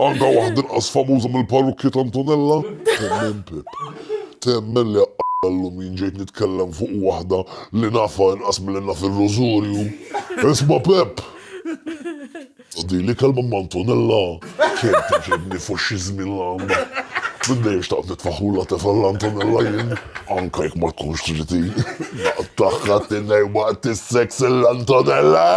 Speaker 7: Għandha waħda inqas famuża mill-parrukkja ta' Antonella? Temmen Pip. Temmen li aqqala llum jien ġejt nitkellem fuq waħda li nafha inqas milli naf ir-Rożorju. Isma' Pip! Ta' din l-ikelma ma' Antonella kemm tgħaġġibni fuq xi żmien l-għandha. Minn dejjem xtaqt nitfaħħulha tefgħa lil Antonella jien. Anke jekk ma tkunx tridni. Naqtagħha tinnejn waqt is-seks lil Antonella!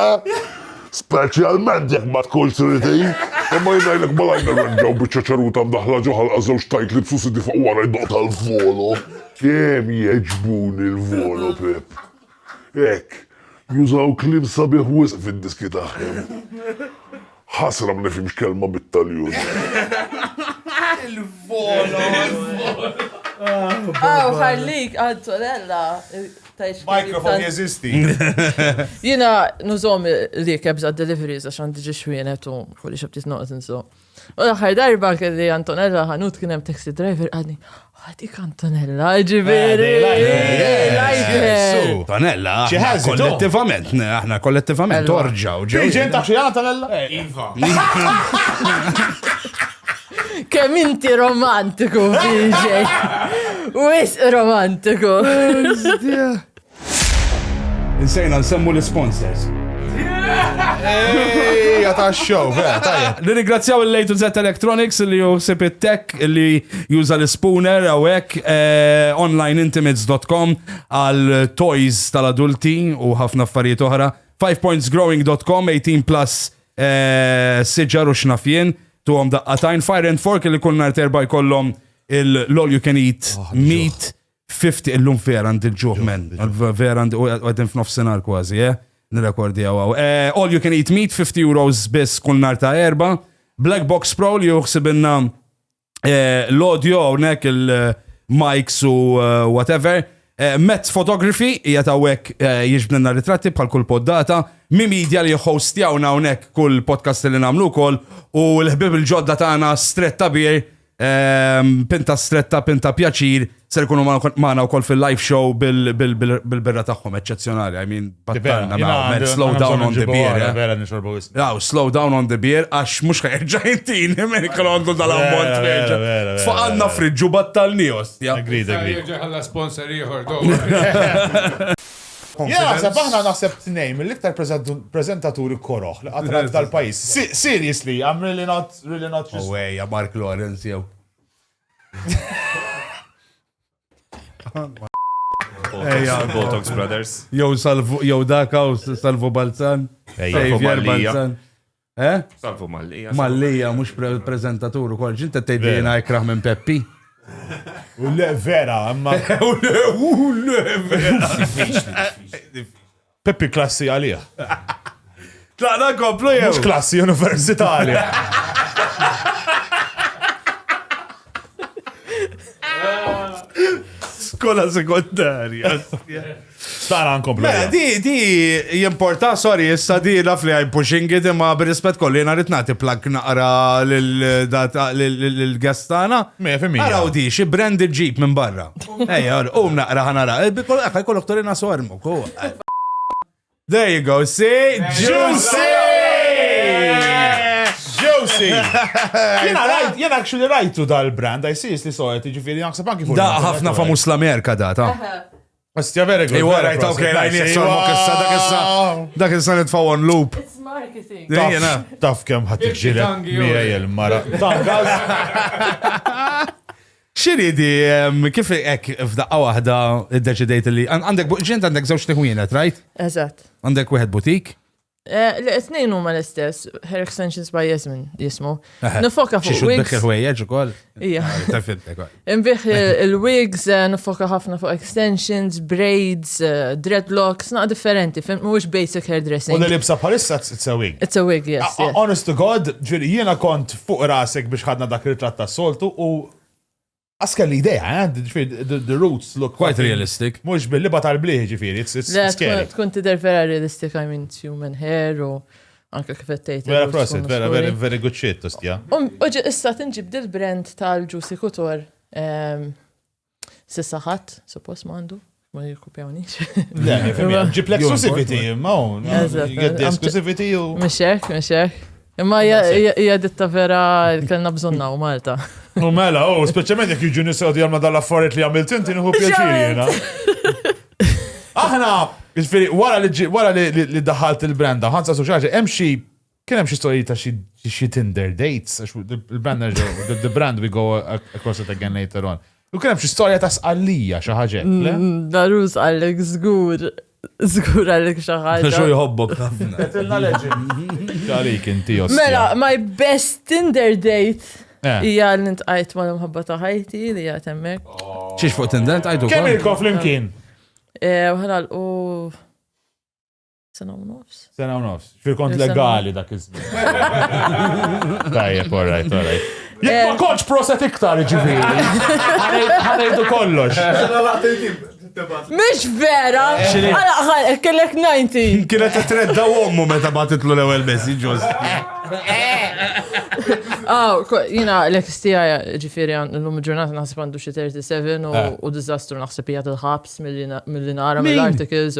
Speaker 7: Speċjalment jekk ma tkunx tridhi. Imma jien ngħidlek malajr nirranġaw biċċa ċaruta mdaħħla ġo ħalqa żewġ tajtli b'susidi fuq wara jdoqq tal-volo. Kemm jgħeġbuni l-volo, Pip. Hekk, jużaw kliem sabiħ wisq fid-diski tagħhom. Ħasra ma nifhimx kelma bit-Taljun.
Speaker 2: Il-volo!
Speaker 5: Aw, ħallik, Antonella. Microphone
Speaker 2: jeżisti.
Speaker 5: Jina nużom li kebs għad deliveries għax għandi ġi xwienet u kulli xabtit noqt nżu. U l-ħar darba kelli Antonella ħanut kien hemm taxi driver għadni. Għadik Antonella, ġiviri. Antonella,
Speaker 3: kollettivament, aħna kollettivament, orġaw. Ġew ġenta xi
Speaker 2: Antonella?
Speaker 3: Iva.
Speaker 5: Kemm inti romantiku, BJ. Wis romantiku.
Speaker 3: Insejna nsemmu l-sponsors. Ejja
Speaker 2: ta' show, vera, tajja. Nirringrazzjaw il-Lejtu Z
Speaker 3: Electronics li juħsib it-tech li juża l-spooner għawek eh, onlineintimates.com għal toys tal-adulti u ħafna affarijiet oħra. 5pointsgrowing.com 18 plus siġar u x'naf jien, tuhom daqqatajn, fire and fork li kull nhar terba' jkollhom l-all you can eat ah, meat 50 illum vera għand il-ġuħ men, vera għand għedin f'nofsinhar kważi, eh? Nirekordi għaw. Eh, all you can eat meat 50 euros biss kull nhar ta' erba'. Black Box Pro li juħsibinna eh, l-audio hawnhekk il-mics u eh, whatever. Eh, Met Photography hija tawek jiġbdilna ritratti bħal kull poddata, mi media li jħostjawna hawnhekk kull podcast li nagħmlu wkoll u l-ħbib il-ġodda tagħna stretta bir, ehm, pinta stretta, pinta pjaċir, Ser ikunu maħna u koll fil-live show bil-birra tagħhom eċċezzjonali. I mean, battanna ma' slow down on the beer. Raw,
Speaker 2: eh? slow down on the
Speaker 3: beer, għax mux ħajġa jintin, minn kolondu dal-ammont ħajġa.
Speaker 2: Faqalna
Speaker 3: friġġu battalni ostja. Agreed, agreed. Ħalla
Speaker 2: sponsor
Speaker 4: ieħor Ja,
Speaker 2: sa baħna naħseb t-nejm, l-iktar prezentaturi koroħ li għatrat dal-pajis. Seriously, I'm really not, really not. Oh, yeah, Mark Lawrence,
Speaker 3: jew.
Speaker 6: Botox Brothers. Jow salvu, jow
Speaker 3: daka u salvu Balzan. Xavier Balzan. Eh? Salvu
Speaker 6: Mallija. Mallija, mux
Speaker 3: prezentatur u kol. Ġinta t-tejdi jena ikraħ minn Peppi. U
Speaker 2: le vera, ma. U le, u le vera. Peppi klassi għalih.
Speaker 3: Tlaqna nkomplu jew? Mhux klassi
Speaker 2: universitali.
Speaker 3: Skola sekondarja.
Speaker 2: Tara nkomplu. Mela, di, di,
Speaker 3: jimporta, sorry, issa di laf li għaj pushing it imma b'rispet kolli jena rrit nagħti plug naqra l-gestana. Mela, femmi. Għaraw di,
Speaker 2: xi branded
Speaker 3: ġip minn barra. Ejja, um naqra ħanara. Eh, Bikol għakaj kollok torina sormu. ko. There you go, see? Juicy!
Speaker 2: Juicy! Jena rajt, jena actually rajtu dal-brand, I see li soħet, ġifiri naħseb anki fuq. Da ħafna famus
Speaker 3: l-Amerika da, ta. Ostja vera
Speaker 2: għu. Iwa rajt, ok, rajt, jessor,
Speaker 3: ma kessa, da kessa, da kessa nitfaw on loop. It's
Speaker 5: marketing. Jena. Taf kem
Speaker 2: ħat iġġiret, mija jel-mara. Taf,
Speaker 3: Xiridi, kif hekk f'daqqa waħda iddeċidejt li għandek buġġint għandek żewġ tiħwienet, right? Eżatt. Għandek
Speaker 5: wieħed butik?
Speaker 3: Eh, li tnejn
Speaker 5: huma l-istess, Hair Extensions by Jasmine jismu. Nifoka fuq wigs. Xi ħwejjeġ ukoll?
Speaker 3: Ija.
Speaker 5: Ah,
Speaker 3: Inbih
Speaker 5: il-wigs, eh, nifoka ħafna fuq extensions, braids, eh, dreadlocks, naq differenti, fim mhuwiex basic hairdressing. U li libsa
Speaker 2: bħalissa
Speaker 5: it's
Speaker 2: a wig. It's a wig, yes. Ah, ah,
Speaker 5: honest to God,
Speaker 2: ġieli jiena kont fuq rasek biex ħadna dak ritratt tas-soltu u Għas kelli idea, eh? the roots look quite realistic. Mux
Speaker 3: billi bat għal-bliħ
Speaker 2: ġifiri, it's scary. Tkun tider vera
Speaker 5: realistic, I mean, human hair u anka kif għettejt. Vera prosit, vera, vera,
Speaker 2: very good shit, tostja. Uġi, issa
Speaker 5: tinġib dil-brand tal-ġusi kutor. Ehm, Sissa ħadd, suppost m'għandu, ma jirkupjawnix. Le,
Speaker 2: ġib l-exclusivity, ma un. Exclusivity u. Mxek, mxek.
Speaker 5: Imma hija ditta vera kellna bżonna u Malta. U mela, u
Speaker 2: speċjalment jekk jiġu nisgħu jagħmlu dal-affarijiet li għamilt inti nieħu pjaċir jiena. Aħna, jiġifieri wara li daħalt il-branda, ħansa suċaġi, hemm xi Kien hemm xi storiji ta' xi xi Tinder dates, għax the- il-brand nerġa' the- the brand we go a- across it again later on. U kien hemm xi storja ta' sqallija xi ħaġa hekk, le? Mm, Darus
Speaker 5: għallek żgur, żgur għallek xi ħaġa. Xo jħobbok ħafna.
Speaker 3: Tilna legend.
Speaker 2: Għalik inti ostja. Mela, my best
Speaker 5: Tinder date Eh. hija li ntqajt ma' l-imħabba ta' ħajti li hija temmek. Xiex fuq Tinder,
Speaker 3: tajdu. Kemm ilkom flimkien?
Speaker 2: Eh, Ħanal
Speaker 5: u Sena u nofs. Sena u nofs. Fil-kont
Speaker 2: legali dak iż-żmien. Tajjeb, all right, all right. Jek ma konċ proset iktar ġiviri. Għanajdu kollox. Mish
Speaker 5: vera! Għala għal, kellek 90. Kienet t-tredda
Speaker 3: għommu meta batitlu l-ewel messi ġoz.
Speaker 5: Aw, jina l-ex tijaj ġifiri l-lum ġurnata naħseb għandu xie 37 u eh. dizastru naħseb jgħat il-ħabs mill-li nara mill-articles.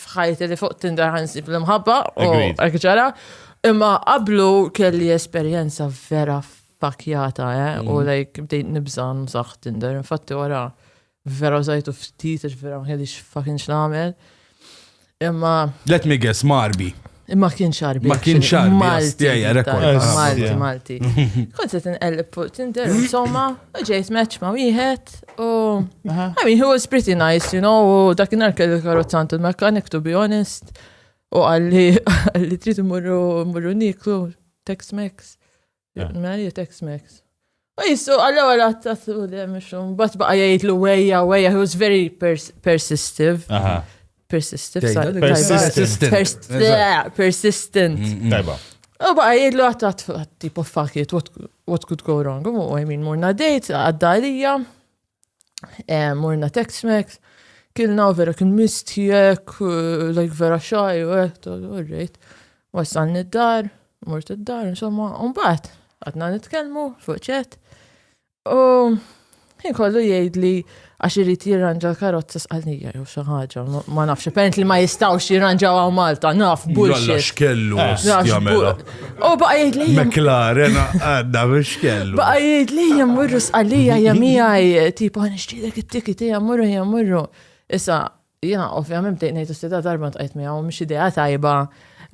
Speaker 5: f'ħajti li fuq Tinder ħansib l-imħabba u għek ġara. Imma qablu kelli esperjenza vera fakjata, eh? U mhm. like bdejt nibżan saħ Tinder. Infatti wara vera użajtu ftit, vera ma kellix fucking x'nagħmel. Imma. Let me guess,
Speaker 3: marbi. Ma kien xarbi.
Speaker 5: Ma kien xarbi. Malti.
Speaker 3: Malti, Malti.
Speaker 5: Kont se tinqellib fuq Tinder, insomma, ġejt match ma' wieħed u. I mean, he was pretty nice, you know, u dakinhar kelli karozzant il-mekanik, to be honest. U għalli, għalli trid imurru niklu, Tex-Mex. Eh. Mary text Max. U jissu, għalla għalla għattatu li għemixum, bat baqa jgħid l wejja, wejja, he was very persistive. Persistive, persistent.
Speaker 2: Persistent. Mm, mm. Tajba. U baqa
Speaker 5: jgħid l għattatu, tipo, fuck it, what could go wrong? U I mean, morna dejt, għadda għalija, Eh, morna Tex-Mex, kilna vera kien mistijek, eh, like vera xaj, u għet, eh, u rrit. Wasalni id-dar, mort id-dar, insomma, un-bat, għadna nitkelmu, fuċet. U jien kollu jgħid li għax irrit jirranġa l-karozza sqalnija jew xi ħaġa, ma nafx, apparent li ma jistgħux jirranġaw għaw Malta, naf bullshit. Kellu,
Speaker 3: U baqa jgħid
Speaker 5: li. McLaren
Speaker 3: għadda biex kellu. Baqa jgħid li
Speaker 5: jammurru sqalija jamijaj, tipo għan ixtidek it-tikiti jammurru jammurru. Issa, jena ovvjament bdejt ngħid s-sida darba tqajt miegħu mhix idea tajba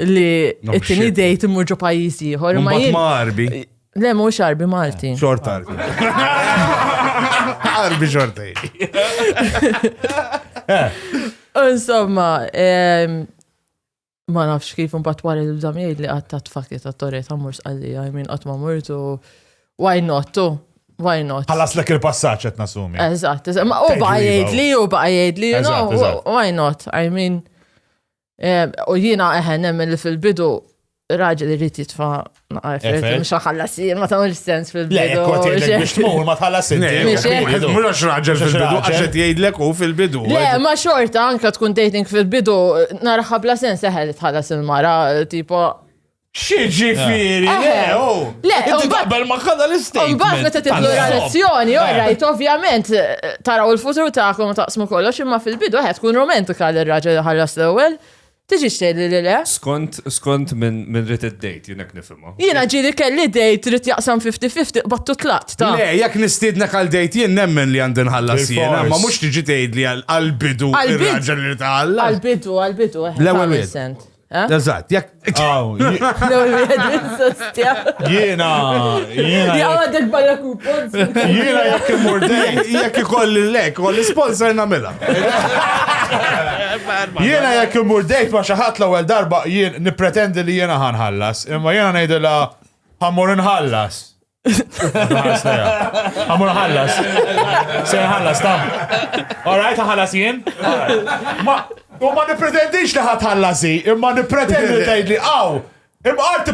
Speaker 5: li t-tieni dejt imur ġo pajjiż ieħor. Ma marbi.
Speaker 3: Le mhux
Speaker 5: arbi Malti. Xort arbi.
Speaker 3: Arbi xorta.
Speaker 5: Insomma, ehm, ma nafx kif imbagħad wara li bżam jgħid li qatt tat fakki ta' torri ta' mur sqallija, I mean qatt ma murtu why not tu? Why not? Ħallas
Speaker 2: lek il-passaġġ qed nasumi. Eżatt, eżatt. Ma u baqa'
Speaker 5: jgħidli, u baqa' jgħidli, you know, why not? I mean, eh, u jiena eħen eh, nemmen li fil-bidu raġel irid jitfa' Ma għarfet, mux għallas, ma tamil sens fil-bidu. Le, kot jgħidlek biex
Speaker 2: tmur, ma tħallas il-bidu. Mux għax raġel
Speaker 3: fil-bidu, għaxet jgħidlek u fil-bidu. Le, ma xorta,
Speaker 5: anka tkun dating fil-bidu, narħa bla sens eħel tħallas il-mara, tipo. Xieġi
Speaker 3: firi, le, u.
Speaker 5: Le, u babbel ma
Speaker 3: kada l-istin. U babbel meta tibdu
Speaker 5: relazzjoni, u rajt, ovvjament, taraw il-futur ta'kom taqsmu kollox, imma fil-bidu għed tkun romantika l-raġel ħallas l-ewel. Tiġi xejli li le? Skont, skont minn
Speaker 6: min rrit id-dejt, jinek nifimma. Jina ġiri kelli
Speaker 5: dejt rrit jaqsam 50-50 battu tlat, ta' Le, jekk nistidna għal
Speaker 3: dejt jien nemmen li għandin ħallas jiena, ma mhux tiġi tgħid li għal-bidu ir-raġel li tħallas. Għal-bidu, għal-bidu, eh.
Speaker 5: L-ewwel
Speaker 3: wieħed. Eh? Eżatt, jekk. L-ewwel
Speaker 5: wieħed insostja. Jiena,
Speaker 2: jiena. Ja
Speaker 5: għadek barra kupons. Jiena jekk
Speaker 2: imur dejt, jekk ikolli lek,
Speaker 3: u l-sponsor nagħmilha.
Speaker 2: Jiena jekk imur dejt ma xi ħadd l-ewwel darba jien nippretendi li jiena ħanħallas, imma jiena ngħidilha ħammur inħallas. Għamur ħallas. Se ħallas, ta. Alright, ħallas jien. Ma, u ma nipretendix li ħat ħallasi, imma nipretendi li tgħid li għaw. Imma għart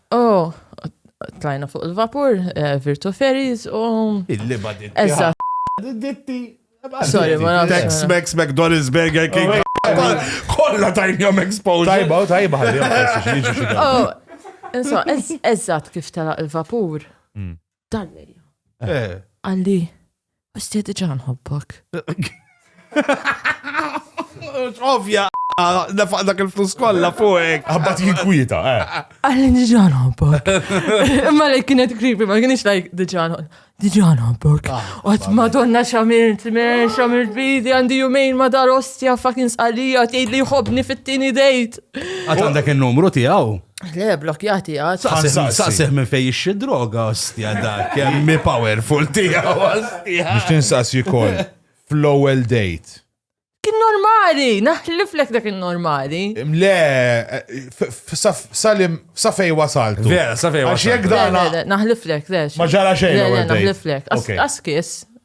Speaker 5: U tlajna fuq il-vapur, eh, Virtu Ferries u. Il-liba ditti.
Speaker 3: Eżatt.
Speaker 5: Ditti.
Speaker 3: Sorry, ma
Speaker 5: nafx. Tex Mex McDonald's
Speaker 3: Burger King. Oh, Kolla tajnjom exposure. Tajba, u tajba ħalli
Speaker 2: għamil xieġu xieġu. Oh, insomma,
Speaker 5: ez- eżatt kif tela il-vapur. Dalli. Eh. Għalli, għax ti diġa nħobbok.
Speaker 3: Ovja, nafaq dak il-flus kolla fuqek. Għabbat jinkwita, eh.
Speaker 2: Għalli diġa
Speaker 5: nħobbok. Imma li kienet kripi, ma kienx lajk diġa nħobbok. Diġa nħobbok. Ah, Għat madonna xamilt, men, xamilt bidi, għandi jumejn ma dar ostja, fucking sqalija, tgħid li jħobni fit-tini dejt. Għat għandek
Speaker 3: il-numru tijaw. Le, blok jati
Speaker 5: għad. Saqsih minn fej
Speaker 3: ixxi droga, ostja da, kemmi powerful tija, ostja. Biex tinsaqsi kol,
Speaker 2: fl-ewel date. Kien
Speaker 5: normali, naħliflek dak kien normali. Le,
Speaker 2: salim, safej wasaltu. Vera, safej wasaltu. Għax jek
Speaker 3: dana.
Speaker 2: Naħliflek, le. Ma ġara xejn. Le,
Speaker 5: naħliflek.
Speaker 2: Askis,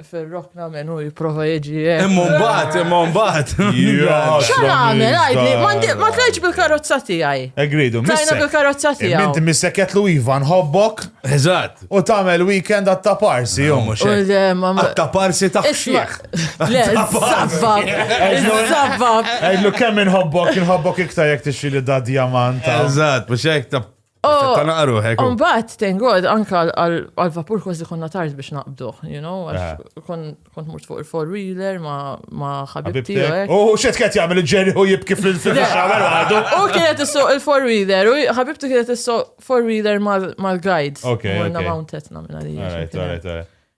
Speaker 5: Fir-rokna minn hu jipprova jiġi. Eh. Imma mbagħad, imma
Speaker 3: mbagħad. X'għan għamel,
Speaker 5: għajdli, ma tlajċ bil-karozza tiegħi. Egridu, Tlajna
Speaker 2: bil-karozza
Speaker 5: tiegħi. Minti missekket lu Iva
Speaker 2: nħobbok. Eżatt. U
Speaker 3: tagħmel weekend
Speaker 2: għatta parsi jom. Għatta
Speaker 3: parsi ta' xieħ. Le, zabbab.
Speaker 5: Zabbab. Għajdlu kemm
Speaker 2: inħobbok, inħobbok iktar jek tixxili da diamant. Eżatt, biex jek
Speaker 3: ta' Oh, Tana għaruħek. Oh. Umbat, thank God,
Speaker 5: anka għal-vapur kważi konna tard biex naqbduħ, you know, għax ah. kont murt fuq il-four-wheeler ma ħabibti. U xet kħet jgħamil il-ġeri
Speaker 2: u jibki fil-xamer għadu. U kienet issu
Speaker 5: il-four-wheeler, u ħabibti kienet issu four-wheeler mal-guide. Ok. Għanna
Speaker 2: mountetna minna
Speaker 5: li.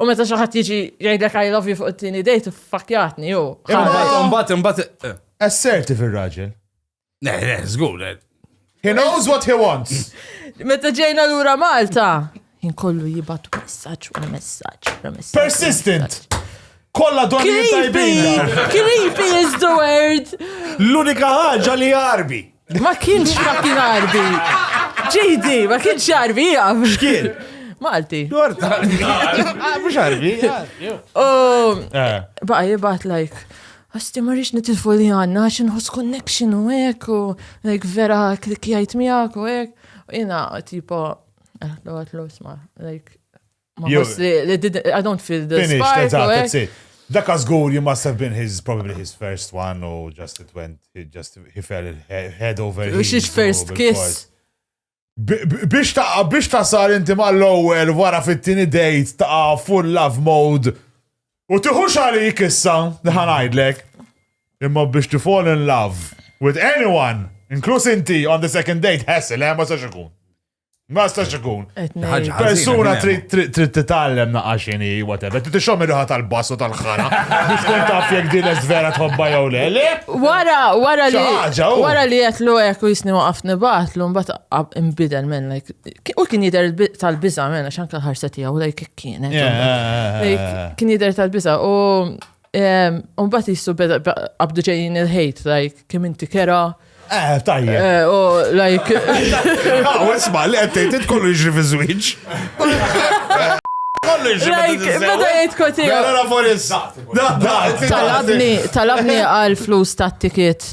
Speaker 5: U meta xi ħadd jiġi jgħidlek I love you fuq it-tieni dejt fakjatni u. Imbagħad imbagħad.
Speaker 3: Eh. Assertive
Speaker 2: ir-raġel. Ne, ne,
Speaker 3: żgur. Eh. He
Speaker 2: knows what he wants. Meta ġejna
Speaker 5: lura Malta, inkollu jibatu messaġġ wara messaġġ wara messaġġ. Persistent.
Speaker 2: Kolla donni tajbin. Creepy is
Speaker 5: the word. L-unika
Speaker 3: ħaġa li jarbi. Ma kienx
Speaker 5: fucking Arbi. JD, ma kienx Arbi jgħam. Xkien?
Speaker 3: Malti.
Speaker 5: Dorta.
Speaker 3: Ah, mux Arbi. Um,
Speaker 5: eh. Baqa jibat like. Għasti marriċ nitilfu li għanna, għaxin hos connection u ek, u like vera klikjajt miegħek u ek. Jina, tipo, eh, l-għat l-osma, like, Ma Jew- forsi li- li did- I don't feel the Finished, spark. eżatt, u hekk. that's it. Dak żgur, you
Speaker 2: must have been his, probably his first one, u just it went, he just, he fell he- head over heels. Which is u first bil-fors. kiss.
Speaker 5: Bi- bi-
Speaker 2: Biex ta' biex ta' sar inti mal-ewwel wara fit-tieni date ta' full love mode u tiħux għalik issa li ħanajdlek. Imma biex to fall in love with anyone, inkluż inti on the second date, hassle, eh, ma sax ikun. Ma stax ikun. Persuna trid titgħallem naqaxini, whatever. Trid tixhom ir-riħa tal-bass u tal-ħara. Biex tkun taf jekk din vera tħobba jew le. Le? Wara, wara li.
Speaker 5: Wara li jetlu hekk u jisni waqaf nibatlu, mbagħad imbidel minn like. U kien jidher tal-biża' minn għax anke l-ħarsa tiegħu like kienet. Kien jidher tal-biża' u Umbat jissu beda qabdu ġejjin il-ħejt, like, kim inti kera. Eh, tajja.
Speaker 2: Eh, u, like.
Speaker 5: Għaw, ah,
Speaker 3: isma, li għettejt, kollu jġri fi zwiġ. Kollu
Speaker 5: jġri fi Beda jgħid koti. Għara
Speaker 3: forissat. Talabni,
Speaker 5: talabni għal flus tat-tiket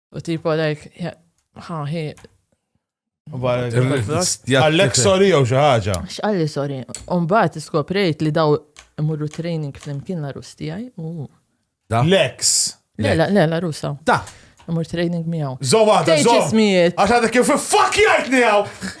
Speaker 5: U tipo like, ha, hi.
Speaker 2: Għallek sorry jew xi ħaġa. X'qalli sorry.
Speaker 5: Umbagħad iskoprejt li daw imurru training flimkien la rus tiegħi.
Speaker 2: Lex. Le, le, le,
Speaker 5: la rusa. Da. Imur
Speaker 3: training
Speaker 5: miegħu. Żo waħda, żo.
Speaker 2: Għax
Speaker 5: għadek kif fuck
Speaker 2: jgħidni hawn.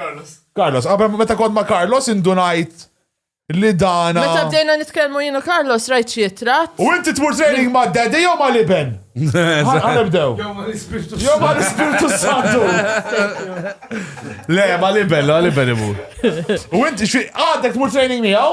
Speaker 2: Carlos. Carlos, qabel meta kont ma' Carlos indunajt li dana. Meta bdejna nitkellmu
Speaker 5: jienu Carlos rajt xi tratt. U inti tmur training
Speaker 2: ma' daddy jew ma' liben? Ħanibdew. Jew ma' l-ispirtu. Jew ma' l-ispirtu santu.
Speaker 3: Le, ma' liben, ma' liben imur. U inti xi
Speaker 2: għadek tmur training miegħu?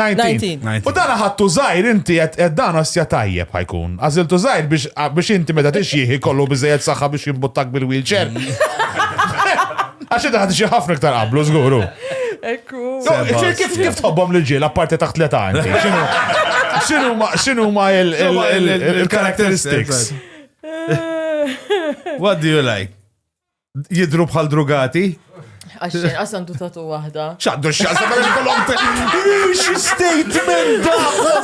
Speaker 2: 19. U dan ħattu zaħir inti qed dan osja tajjeb ħajkun. Għażiltu zaħir biex inti meta tixjih ikollu biżejjed saħħa biex jimbuttak bil-wheelchair. Għax inti ħadġi ħafna iktar qablu żguru. Ekku. Kif kif tħobbhom lil ġiel apparti taħt l-età inti? X'inhu ma il-characteristics?
Speaker 3: What do you like? jidru bħal drugati. Għaxin, għasan
Speaker 5: tu tatu wahda. ċaddu xaqsa ma
Speaker 2: jkollhom Xi statement da!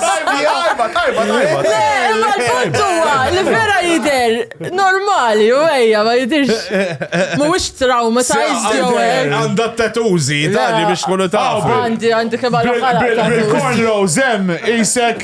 Speaker 2: Tajba, tajba, tajba. Għal-punt
Speaker 5: huwa li vera jider normali u ejja ma jidirx. Mhuwiex trauma ta' jew hekk. Għandha t-tatużi,
Speaker 3: tali biex kunu tafu. Għandi għandi kemm għal
Speaker 5: Bil-cornrows
Speaker 2: hemm isek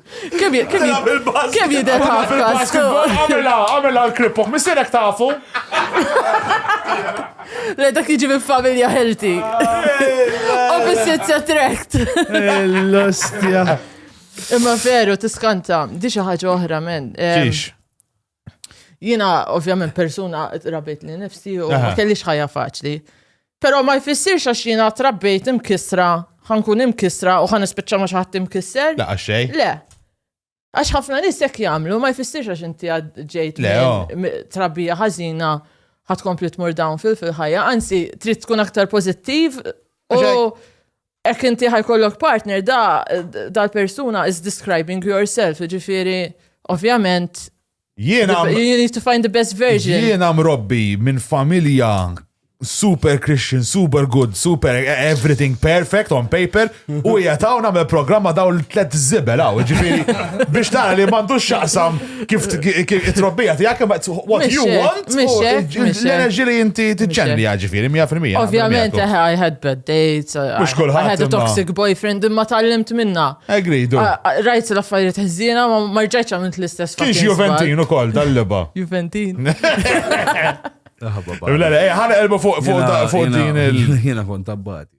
Speaker 5: Kemm jidher ħafkas? Għamela, għamela
Speaker 2: l-kripok, missirek tafu.
Speaker 5: Le dak jiġi minn familja healthy. Opposites attract. L-ostja. Imma veru, tiskanta, di xi ħaġa oħra, men. Xiex. Jina, ovvjament, persuna rabit li nifsi u ma kellix ħajja faċli. Pero ma jfissirx għax jina trabbejt imkisra, ħankun imkisra u ħan ispiċċa ma xaħat imkisser. La, għaxej? Le. Għax ħafna nis jek jamlu, ma jfissirx għax inti ġejt oh. trabbija ħazina ħat kompli tmur dawn fil-ħajja, anzi, trid tkun aktar pozittiv u Ek inti ħajkollok partner da dal-persuna is describing yourself, ġifiri, ovvjament. Jiena. You need to find the best version. Jiena mrobbi
Speaker 2: minn familja super Christian, super good, super everything perfect on paper u jgħatawna me programma daw l-tlet zibel għaw, ġifiri, biex tara li mandu xaqsam Kif it-trobbija tijak, what you want, l-enerġi li jinti t-ġenri għagġifiri, 100%. Ovvijament, I had
Speaker 5: bad dates, I had a toxic boyfriend, imma tal-limt minna. Agree, do.
Speaker 2: Rajt l-affarijiet
Speaker 5: ħżina, ma marġajċa minn l-istess. Kiex Juventin u kol,
Speaker 2: tal-liba. Juventin. Ħana elbu fuq din il- Jena kont
Speaker 3: tabbati.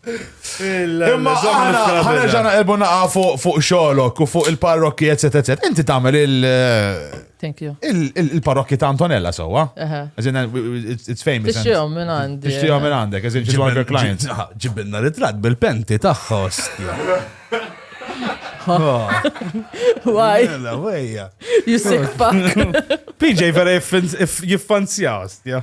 Speaker 2: Imma ħana ġana elbu naqa fuq xolok u fuq il-parrokki, etc. etc. Inti tamel il- Thank
Speaker 5: you. Il-parrokki ta'
Speaker 2: Antonella sowa. It's famous. Tixtijom minn għandek.
Speaker 5: Tixtijom minn għandek, as in she's
Speaker 2: one of your clients. Ġibinna ritrat
Speaker 3: bil-penti taħħa ostja.
Speaker 5: Why? Mela, wejja. You sick fuck. PJ vera
Speaker 3: jiffanzja ostja.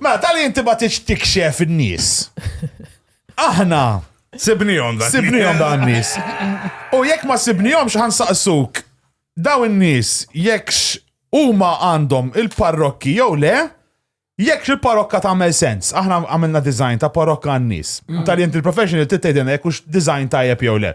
Speaker 3: Mela, tal inti
Speaker 2: ma tix tikxef in-nies. Aħna. Sibnijom
Speaker 3: dan. Sibnijom dan
Speaker 2: nies. U jekk ma sibnijom xħan saqsuk, daw in-nies jekkx huma għandhom il-parrokki jew le, jekk il-parokka tagħmel sens. Aħna għamilna design ta' parokka għan-nies. Mm. Tal inti il-professional titgħidilna jekk hux design tajjeb jew le.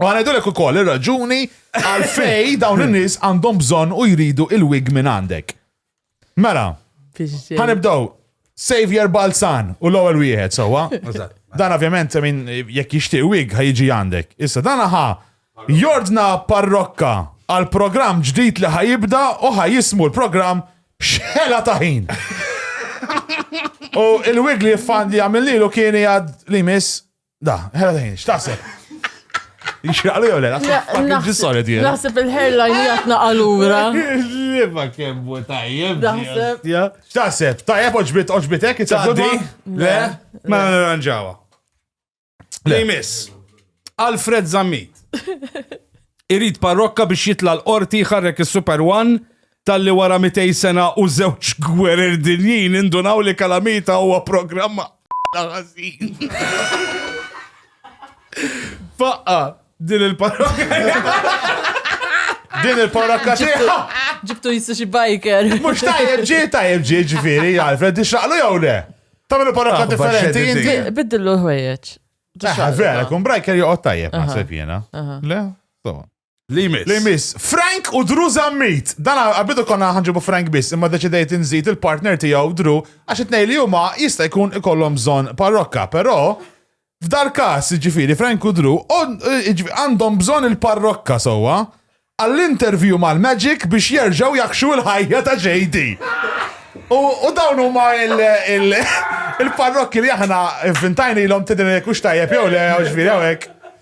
Speaker 2: U għanajdulek u koll il-raġuni għalfej dawn il-nis għandhom bżon u jridu il-wig minn għandek. Mela, għanibdaw Savior Balzan u l-ewwel wieħed sewwa. Dan ovvjament min jekk jixtieq wig ħajġi għandek. Issa dan ħa jordna parrokka għal programm ġdid li ħajibda u ħajismu l-programm xħela taħin. U il-wig li jifan li għamil lilu kien jgħad li miss Da, ħela daħin, x'taħseb? Jixraqlu jew le, naħseb ġi solid jien.
Speaker 5: Naħseb il-hairline jgħatna għalura. Liva
Speaker 3: kemm bu tajjeb. Naħseb.
Speaker 2: X'taħseb? Tajjeb oġbit oġbitek, it's a good one? Le,
Speaker 3: ma nirranġawa. Le jmiss. Alfred Zammit. Irid parrokka biex jitla l-qorti ħarrek is-Super One Talli wara mitej sena u żewġ gwerer dinjin nindunaw li Calamita huwa programm għaqla ħażin. Faqqa din il-parrokka. Din il-parrokka tiegħu. Ġibtu jissu xi
Speaker 5: biker. Mhux tajjeb ġie
Speaker 2: tajjeb ġie ġifieri, Alfred, ixraqlu jew le? Tagħmel parrokka Aħbar differenti xeddid inti. dik. Biddillu l-ħwejjeġ.
Speaker 5: Eh, Vera,
Speaker 2: kun brajker joqgħod tajjeb naħseb jiena. Le? So. Li jmiss. Li jmiss. Frank u Drew Zammit. Dan għabidu konna ħanġibu Frank biss, imma deċidejt nżid il-partner tiegħu Drew għax it li huma jista' jkun ikollhom bżonn parrokka, però f'dal każ ġifieri Frank u Drew għandhom bżonn il-parrokka sewwa għall-interview mal-Magic biex jerġgħu jakxu l-ħajja ta' JD. U dawn huma il-parrokki li aħna vintajni l-om tidin kux tajjeb jew le, ġviri għawek.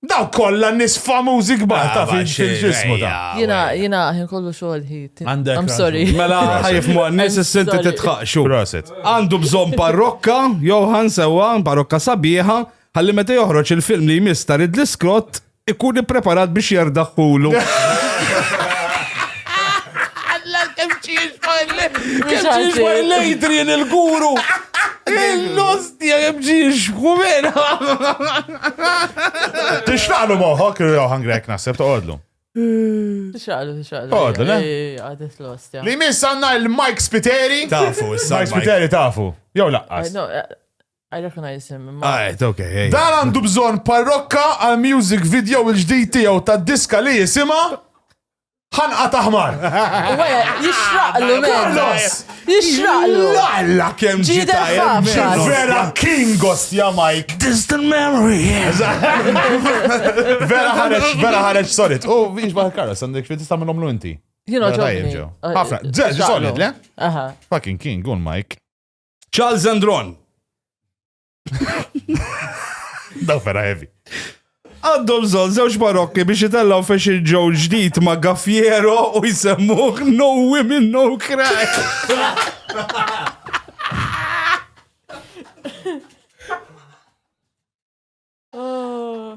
Speaker 3: Daw
Speaker 2: kollha nis famużi kbar ta' fil-ġismu ta'. Jina, jina, ħin
Speaker 5: kollu xogħol ħit. Għandek. I'm sorry. Mela ħajf mu
Speaker 3: għannis s-sinti titħaqxu. Proset. Għandu bżon parrokka, Johan sewa, parrokka sabiħa, ħalli meta joħroġ il-film li jmiss ta' Ridley Scott ikun ippreparat biex jardaħħulu. Adrian il-guru! Il-nostja jemġiex, kumena!
Speaker 2: Tixraqlu moħok, jew ħangrek naħseb toqodlu. Tixraqlu,
Speaker 5: tixraqlu. Toqodlu, le?
Speaker 2: Għadet l-ostja.
Speaker 5: Li miss għanna il-Mike
Speaker 2: Spiteri. Tafu, il-Mike
Speaker 3: Spiteri tafu.
Speaker 2: Jew laqqas. Eh, eh, I
Speaker 5: recognize him. Għajt, ah, ok. Dan
Speaker 3: għandu bżon
Speaker 2: parrokka għal music video il-ġdijt tijaw ta' diska li jisima. ħanqa ta' ħmar.
Speaker 5: Jixraqlu, Carlos!
Speaker 2: Jixraqlu!
Speaker 5: Lalla kem
Speaker 3: ġita vera
Speaker 5: King
Speaker 2: Gostja Mike. Distant memory.
Speaker 3: Vera
Speaker 2: ħareċ, vera ħareċ sorit. U biex baħ Carlos, għandek fi tista' minnhom l-inti. Jino ġobni.
Speaker 5: Ħafna,
Speaker 2: ġeġ solit, le? Fucking King,
Speaker 5: un
Speaker 2: Mike. Charles
Speaker 3: Andron.
Speaker 2: Daw vera heavy. Għandhom
Speaker 3: zon zewġ barokki biex jitellaw fex il-ġew ġdid ma' Gaffiero u jsemmuħ No Women No Crack. Oh.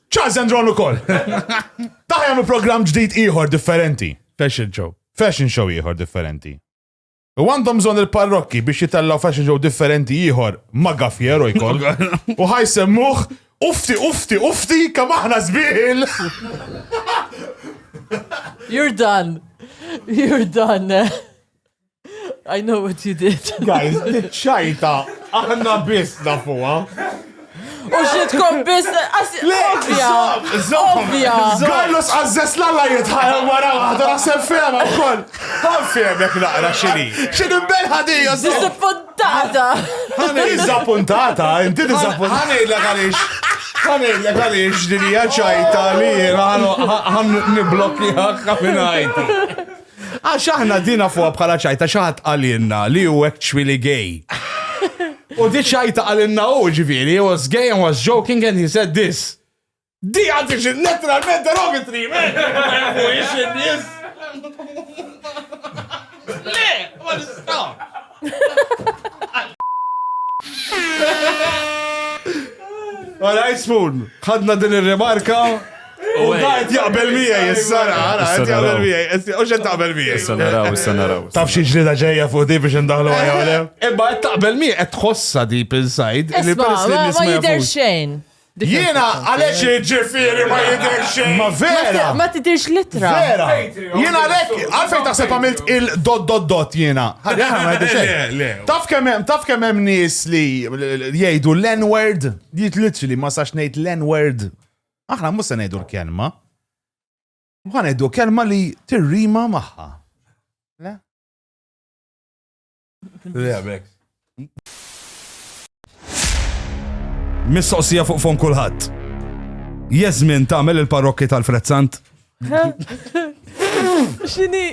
Speaker 2: Charles and Ron ukoll. Taħ jagħmlu programm ġdid ieħor differenti. Fashion show. Fashion show ieħor differenti. U għandhom bżonn il-parrokki biex jitellaw fashion show differenti ieħor ma' gaffiero jkoll. U ħajsemmuh ufti, ufti, ufti, kam aħna zbiħil!
Speaker 5: You're done. You're done. I know what you did. Guys,
Speaker 2: ċajta, aħna biss nafuha. U
Speaker 5: xitkom biss, ovvja, ovvja. Gallus għazzess
Speaker 2: lalla jitħajja wara waħda naħseb fema wkoll. Għan femek naqra xini. Xini mbelħa di, Disappuntata.
Speaker 5: Għani
Speaker 2: disappuntata, inti disappuntata. Għani illa għalix. Għani illa għalix dinija ċajta li jena għan niblokki għakka minn għajti. Għax aħna dina fuqa bħala ċajta xaħat għalinna li u actually gay. U di ċajta għalinna u ġifiri, he was gay and was joking and he said this. Di għaddi xil letteralment derogatory, man! U ixin nis! Le, ma nistaw! Għara, jismun, ħadna din il-remarka. U għajt jaqbel miegħi, s-sara, għajt jaqbel miegħi, u xed taqbel miegħi. Issa naraw, issa naraw. Taf
Speaker 6: xi ġlida
Speaker 2: ġejja fuq di biex indaħlu għajja għalem. Imma qed taqbel miegħi qed tħossa deep inside. Isma, ma jidher
Speaker 5: xejn. Jiena
Speaker 2: għaliex jiġifieri ma jidhirx xejn. Ma vera. Ma tidirx litra.
Speaker 5: Vera. Jiena
Speaker 2: għalhekk għalfejn taħseb għamilt il-dot dot dot jiena. Ħalli aħna ma jidhirx xejn. Taf kemm hemm taf kemm hemm nies li jgħidu l-n-word, jiet literally ma sax ngħid l-n-word. Aħna mhux se ngħidu l-kelma. Ma ngħidu kelma li tirrima magħha. Le?
Speaker 3: Mistoqsija fuq fon kulħadd. Jeżmin tagħmel il-parrokki tal-Frezzant?
Speaker 5: Xini?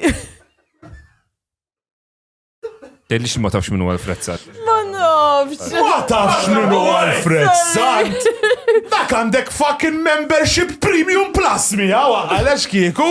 Speaker 6: Tellix ma tafx minnu għal-Frezzant. Ma nafx.
Speaker 5: Ma tafx
Speaker 2: minnu għal-Frezzant. Dak għandek fucking membership premium plus miegħu għalax kieku.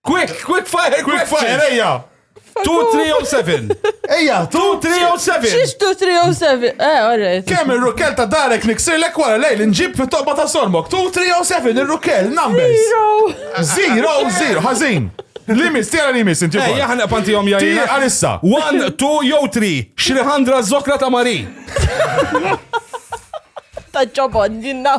Speaker 3: Quick, quick fire, quick fire, ejja!
Speaker 2: 2307.
Speaker 3: Ejja, 2307. Xiex
Speaker 5: 2307? Eh, alright. Kemm ir-rukel ta'
Speaker 2: darek niksir lek wara lejl nġib fit tobba ta' sormok. 2307 ir-rukel numbers. Zero. Zero, zero, ħażin. Limis, tira limis, inti. Eh, Ejja, ħanqa panti jom jajna. Tira
Speaker 3: għalissa. 1, 2, jew 3. Xriħandra
Speaker 2: zokra
Speaker 3: ta' Mari.
Speaker 5: Ta' ġobon, jinna.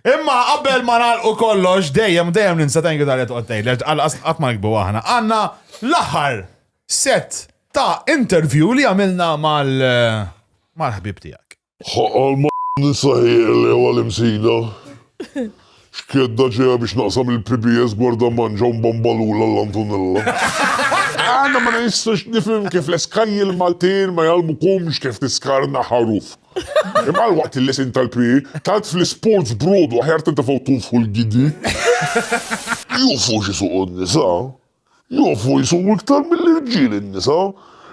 Speaker 2: Imma qabel ma nagħlqu kollox, dejjem dejjem ninsa thank you tal qed tgħid qatt ma nikbu aħna. Għandna l-aħħar set ta' interview li għamilna mal-ħbib tiegħek. Għal ma
Speaker 7: ninsaħiex li huwa l-Imsida. X'kedda ġejja biex naqsam il-PBS Gwarda Manġa u Mbambalula l-Antonella. Għana ma nistax nifhem kif l-eskanji l-Maltin ma jgħallmukomx kif tiskarna ħarufk. Imma waqt il-lesin tal-PE, tant fl-isports brodu aħjar tintefgħu tunfħu l-gidi. Jufu x'isuqu n-nisa. Jufu jsuqu iktar mill-irġiel in-nisa.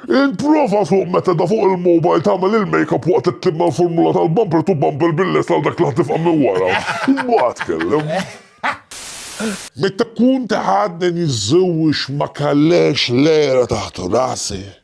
Speaker 7: Ipprova suq meta da fuq il-mobile tagħmel il-makeup waqt li ttibba l-formula tal-bumper to bumper bil-lest għal dak li ħa tifqa' minn wara. Imbagħad tkellem. Meta kont għadni niżżewwiex ma kellhiex lejra taħt rasi.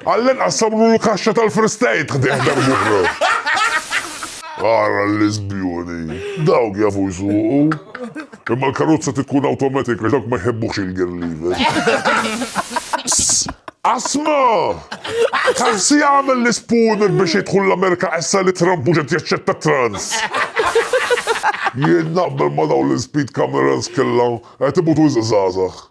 Speaker 7: Għall-inqas sabru l-kaxxa tal-fristajt ħdejh darb'oħra. Ara l-lesbjoni. Dawk jafu jsuqu. Imma l-karozza tikkun awtomatik għax dawk ma jħebbuhx il-gear lever. Asma! Taf xi jagħmel l-ispooner biex jidħol l-Amerika issa li Trump mhux qed jaċċetta trans? Jien naqbel ma' dawn l-speed cameras kellha qed imutu wisq żgħażagħ.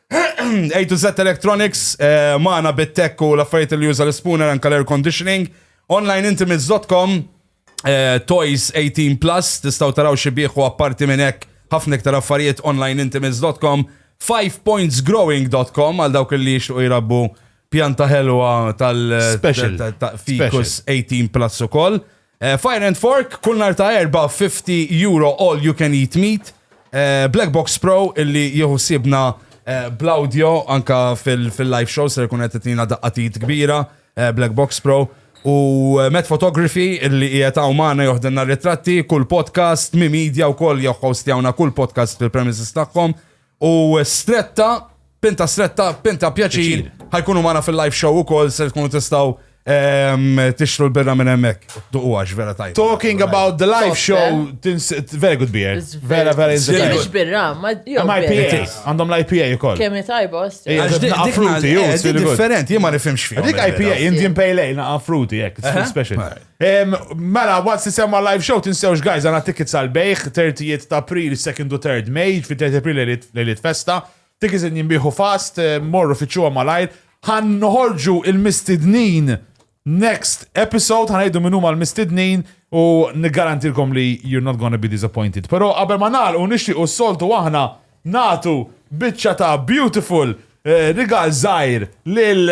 Speaker 3: A to Z Electronics, eh, maħna bit-tek u l-affarijiet li juża l-spooner anka l-air conditioning. Onlineintimates.com, eh, Toys 18 Plus, tistaw taraw xi bieħu apparti minn hekk ħafna iktar affarijiet onlineintimates.com, 5pointsgrowing.com għal dawk li jixtuq jirabbu pjanta ħelwa tal-Ficus 18 Plus ukoll. koll. Fire and Fork kull nhar ta' Erbgħa 50 euro all you can eat meat. Black Box Pro illi jieħu siebna bl-audio anka fil-live show ser ikun qed itina daqqa t'id kbira Black Box Pro. U Met Photography illi qiegħed hawn magħna joħdilna ritratti, kull podcast, Mi Media wkoll jihhostjawna kull podcast fil-premises tagħhom. U stretta, pinta stretta, pinta pjaċir, ħajkunu mana fil-live show u kol, se tkunu tistaw tixtru l-birra minn emmek. Duqu għax, vera tajt. Talking about the live
Speaker 2: show, very good beer. Vera, vera inzir. Mux birra,
Speaker 5: ma IPA.
Speaker 2: Għandhom l-IPA u kol. Kemmi tajba,
Speaker 5: osti. Naqa fruti, ju. Different,
Speaker 3: jima nifimx fija. Dik IPA, Indian Pale
Speaker 2: Ale, naqa fruti, jek, special. Mela, once isemma live show, tinsewx guys, għana tickets għal-bejħ, 30 ta' April, 2nd u 3rd May, fi 30 April lejliet festa, tickets in jimbiħu fast, morru fitxuwa malajr, ħan noħorġu il-mistidnin next episode, ħan għajdu minnu ma l-mistidnin u nigarantilkom li you're not gonna be disappointed. Pero qabel ma nal u nixti u s-soltu aħna Nagħtu biċċa ta' beautiful rigal żgħir lil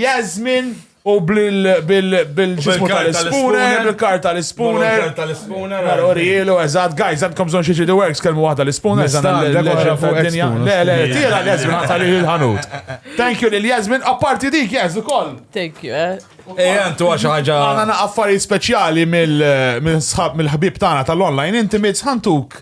Speaker 2: Yasmin u bil-ġismu tal-ispooner, bil-kar tal-ispooner. Bil-kar tal-ispooner. Mela, urijielu, eżatt, guys, għandkom bżonn xi ġidi works, kelmu waħda l-ispooner, għandna l-għoġa fuq dinja. Le, le, tira l-Jasmin għata li l-ħanut. Thank you lil Jasmin, apparti dik, jazz, ukoll. Thank you, eh.
Speaker 5: Ej, għantu għaxa
Speaker 3: ħagġa. Għana affarijiet
Speaker 2: speċjali mill-ħbib tagħna tal-online, inti mitz ħantuk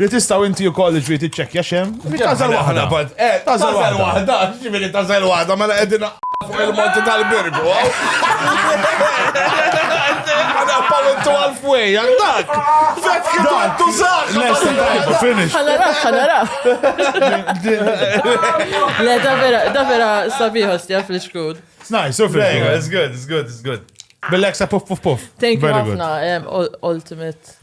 Speaker 2: Li tistgħu inti wkoll ġri tiċċekkja xem. Tażel waħda. Tażel
Speaker 3: waħda, ġifieri tażel waħda mela qegħdin fuq il-monti tal-birgu. Għana pawintu għal-fwej, għandak. Vet kidan, tu saħ. Lesti tajba, finish.
Speaker 2: Għanara, għanara.
Speaker 5: Le, davera, davera sabiħa stja fl-xkud. It's nice, so finish.
Speaker 2: It's good, it's good,
Speaker 3: it's good. Bil-leksa puff,
Speaker 2: puff, puff. Thank you, Ultimate.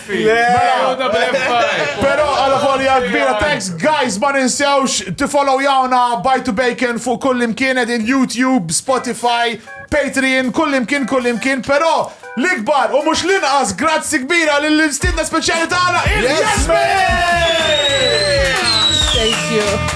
Speaker 2: Pero għala volja kbira, thanks guys, ma ninsewx tifollow jawna Bite to Bacon fuq kull imkien edin YouTube, Spotify, Patreon, kull imkien, kull imkien, pero l-ikbar u mux l-inqas, grazzi kbira l-istidna speċjali tagħna
Speaker 5: il-Jasmin!
Speaker 2: Thank you.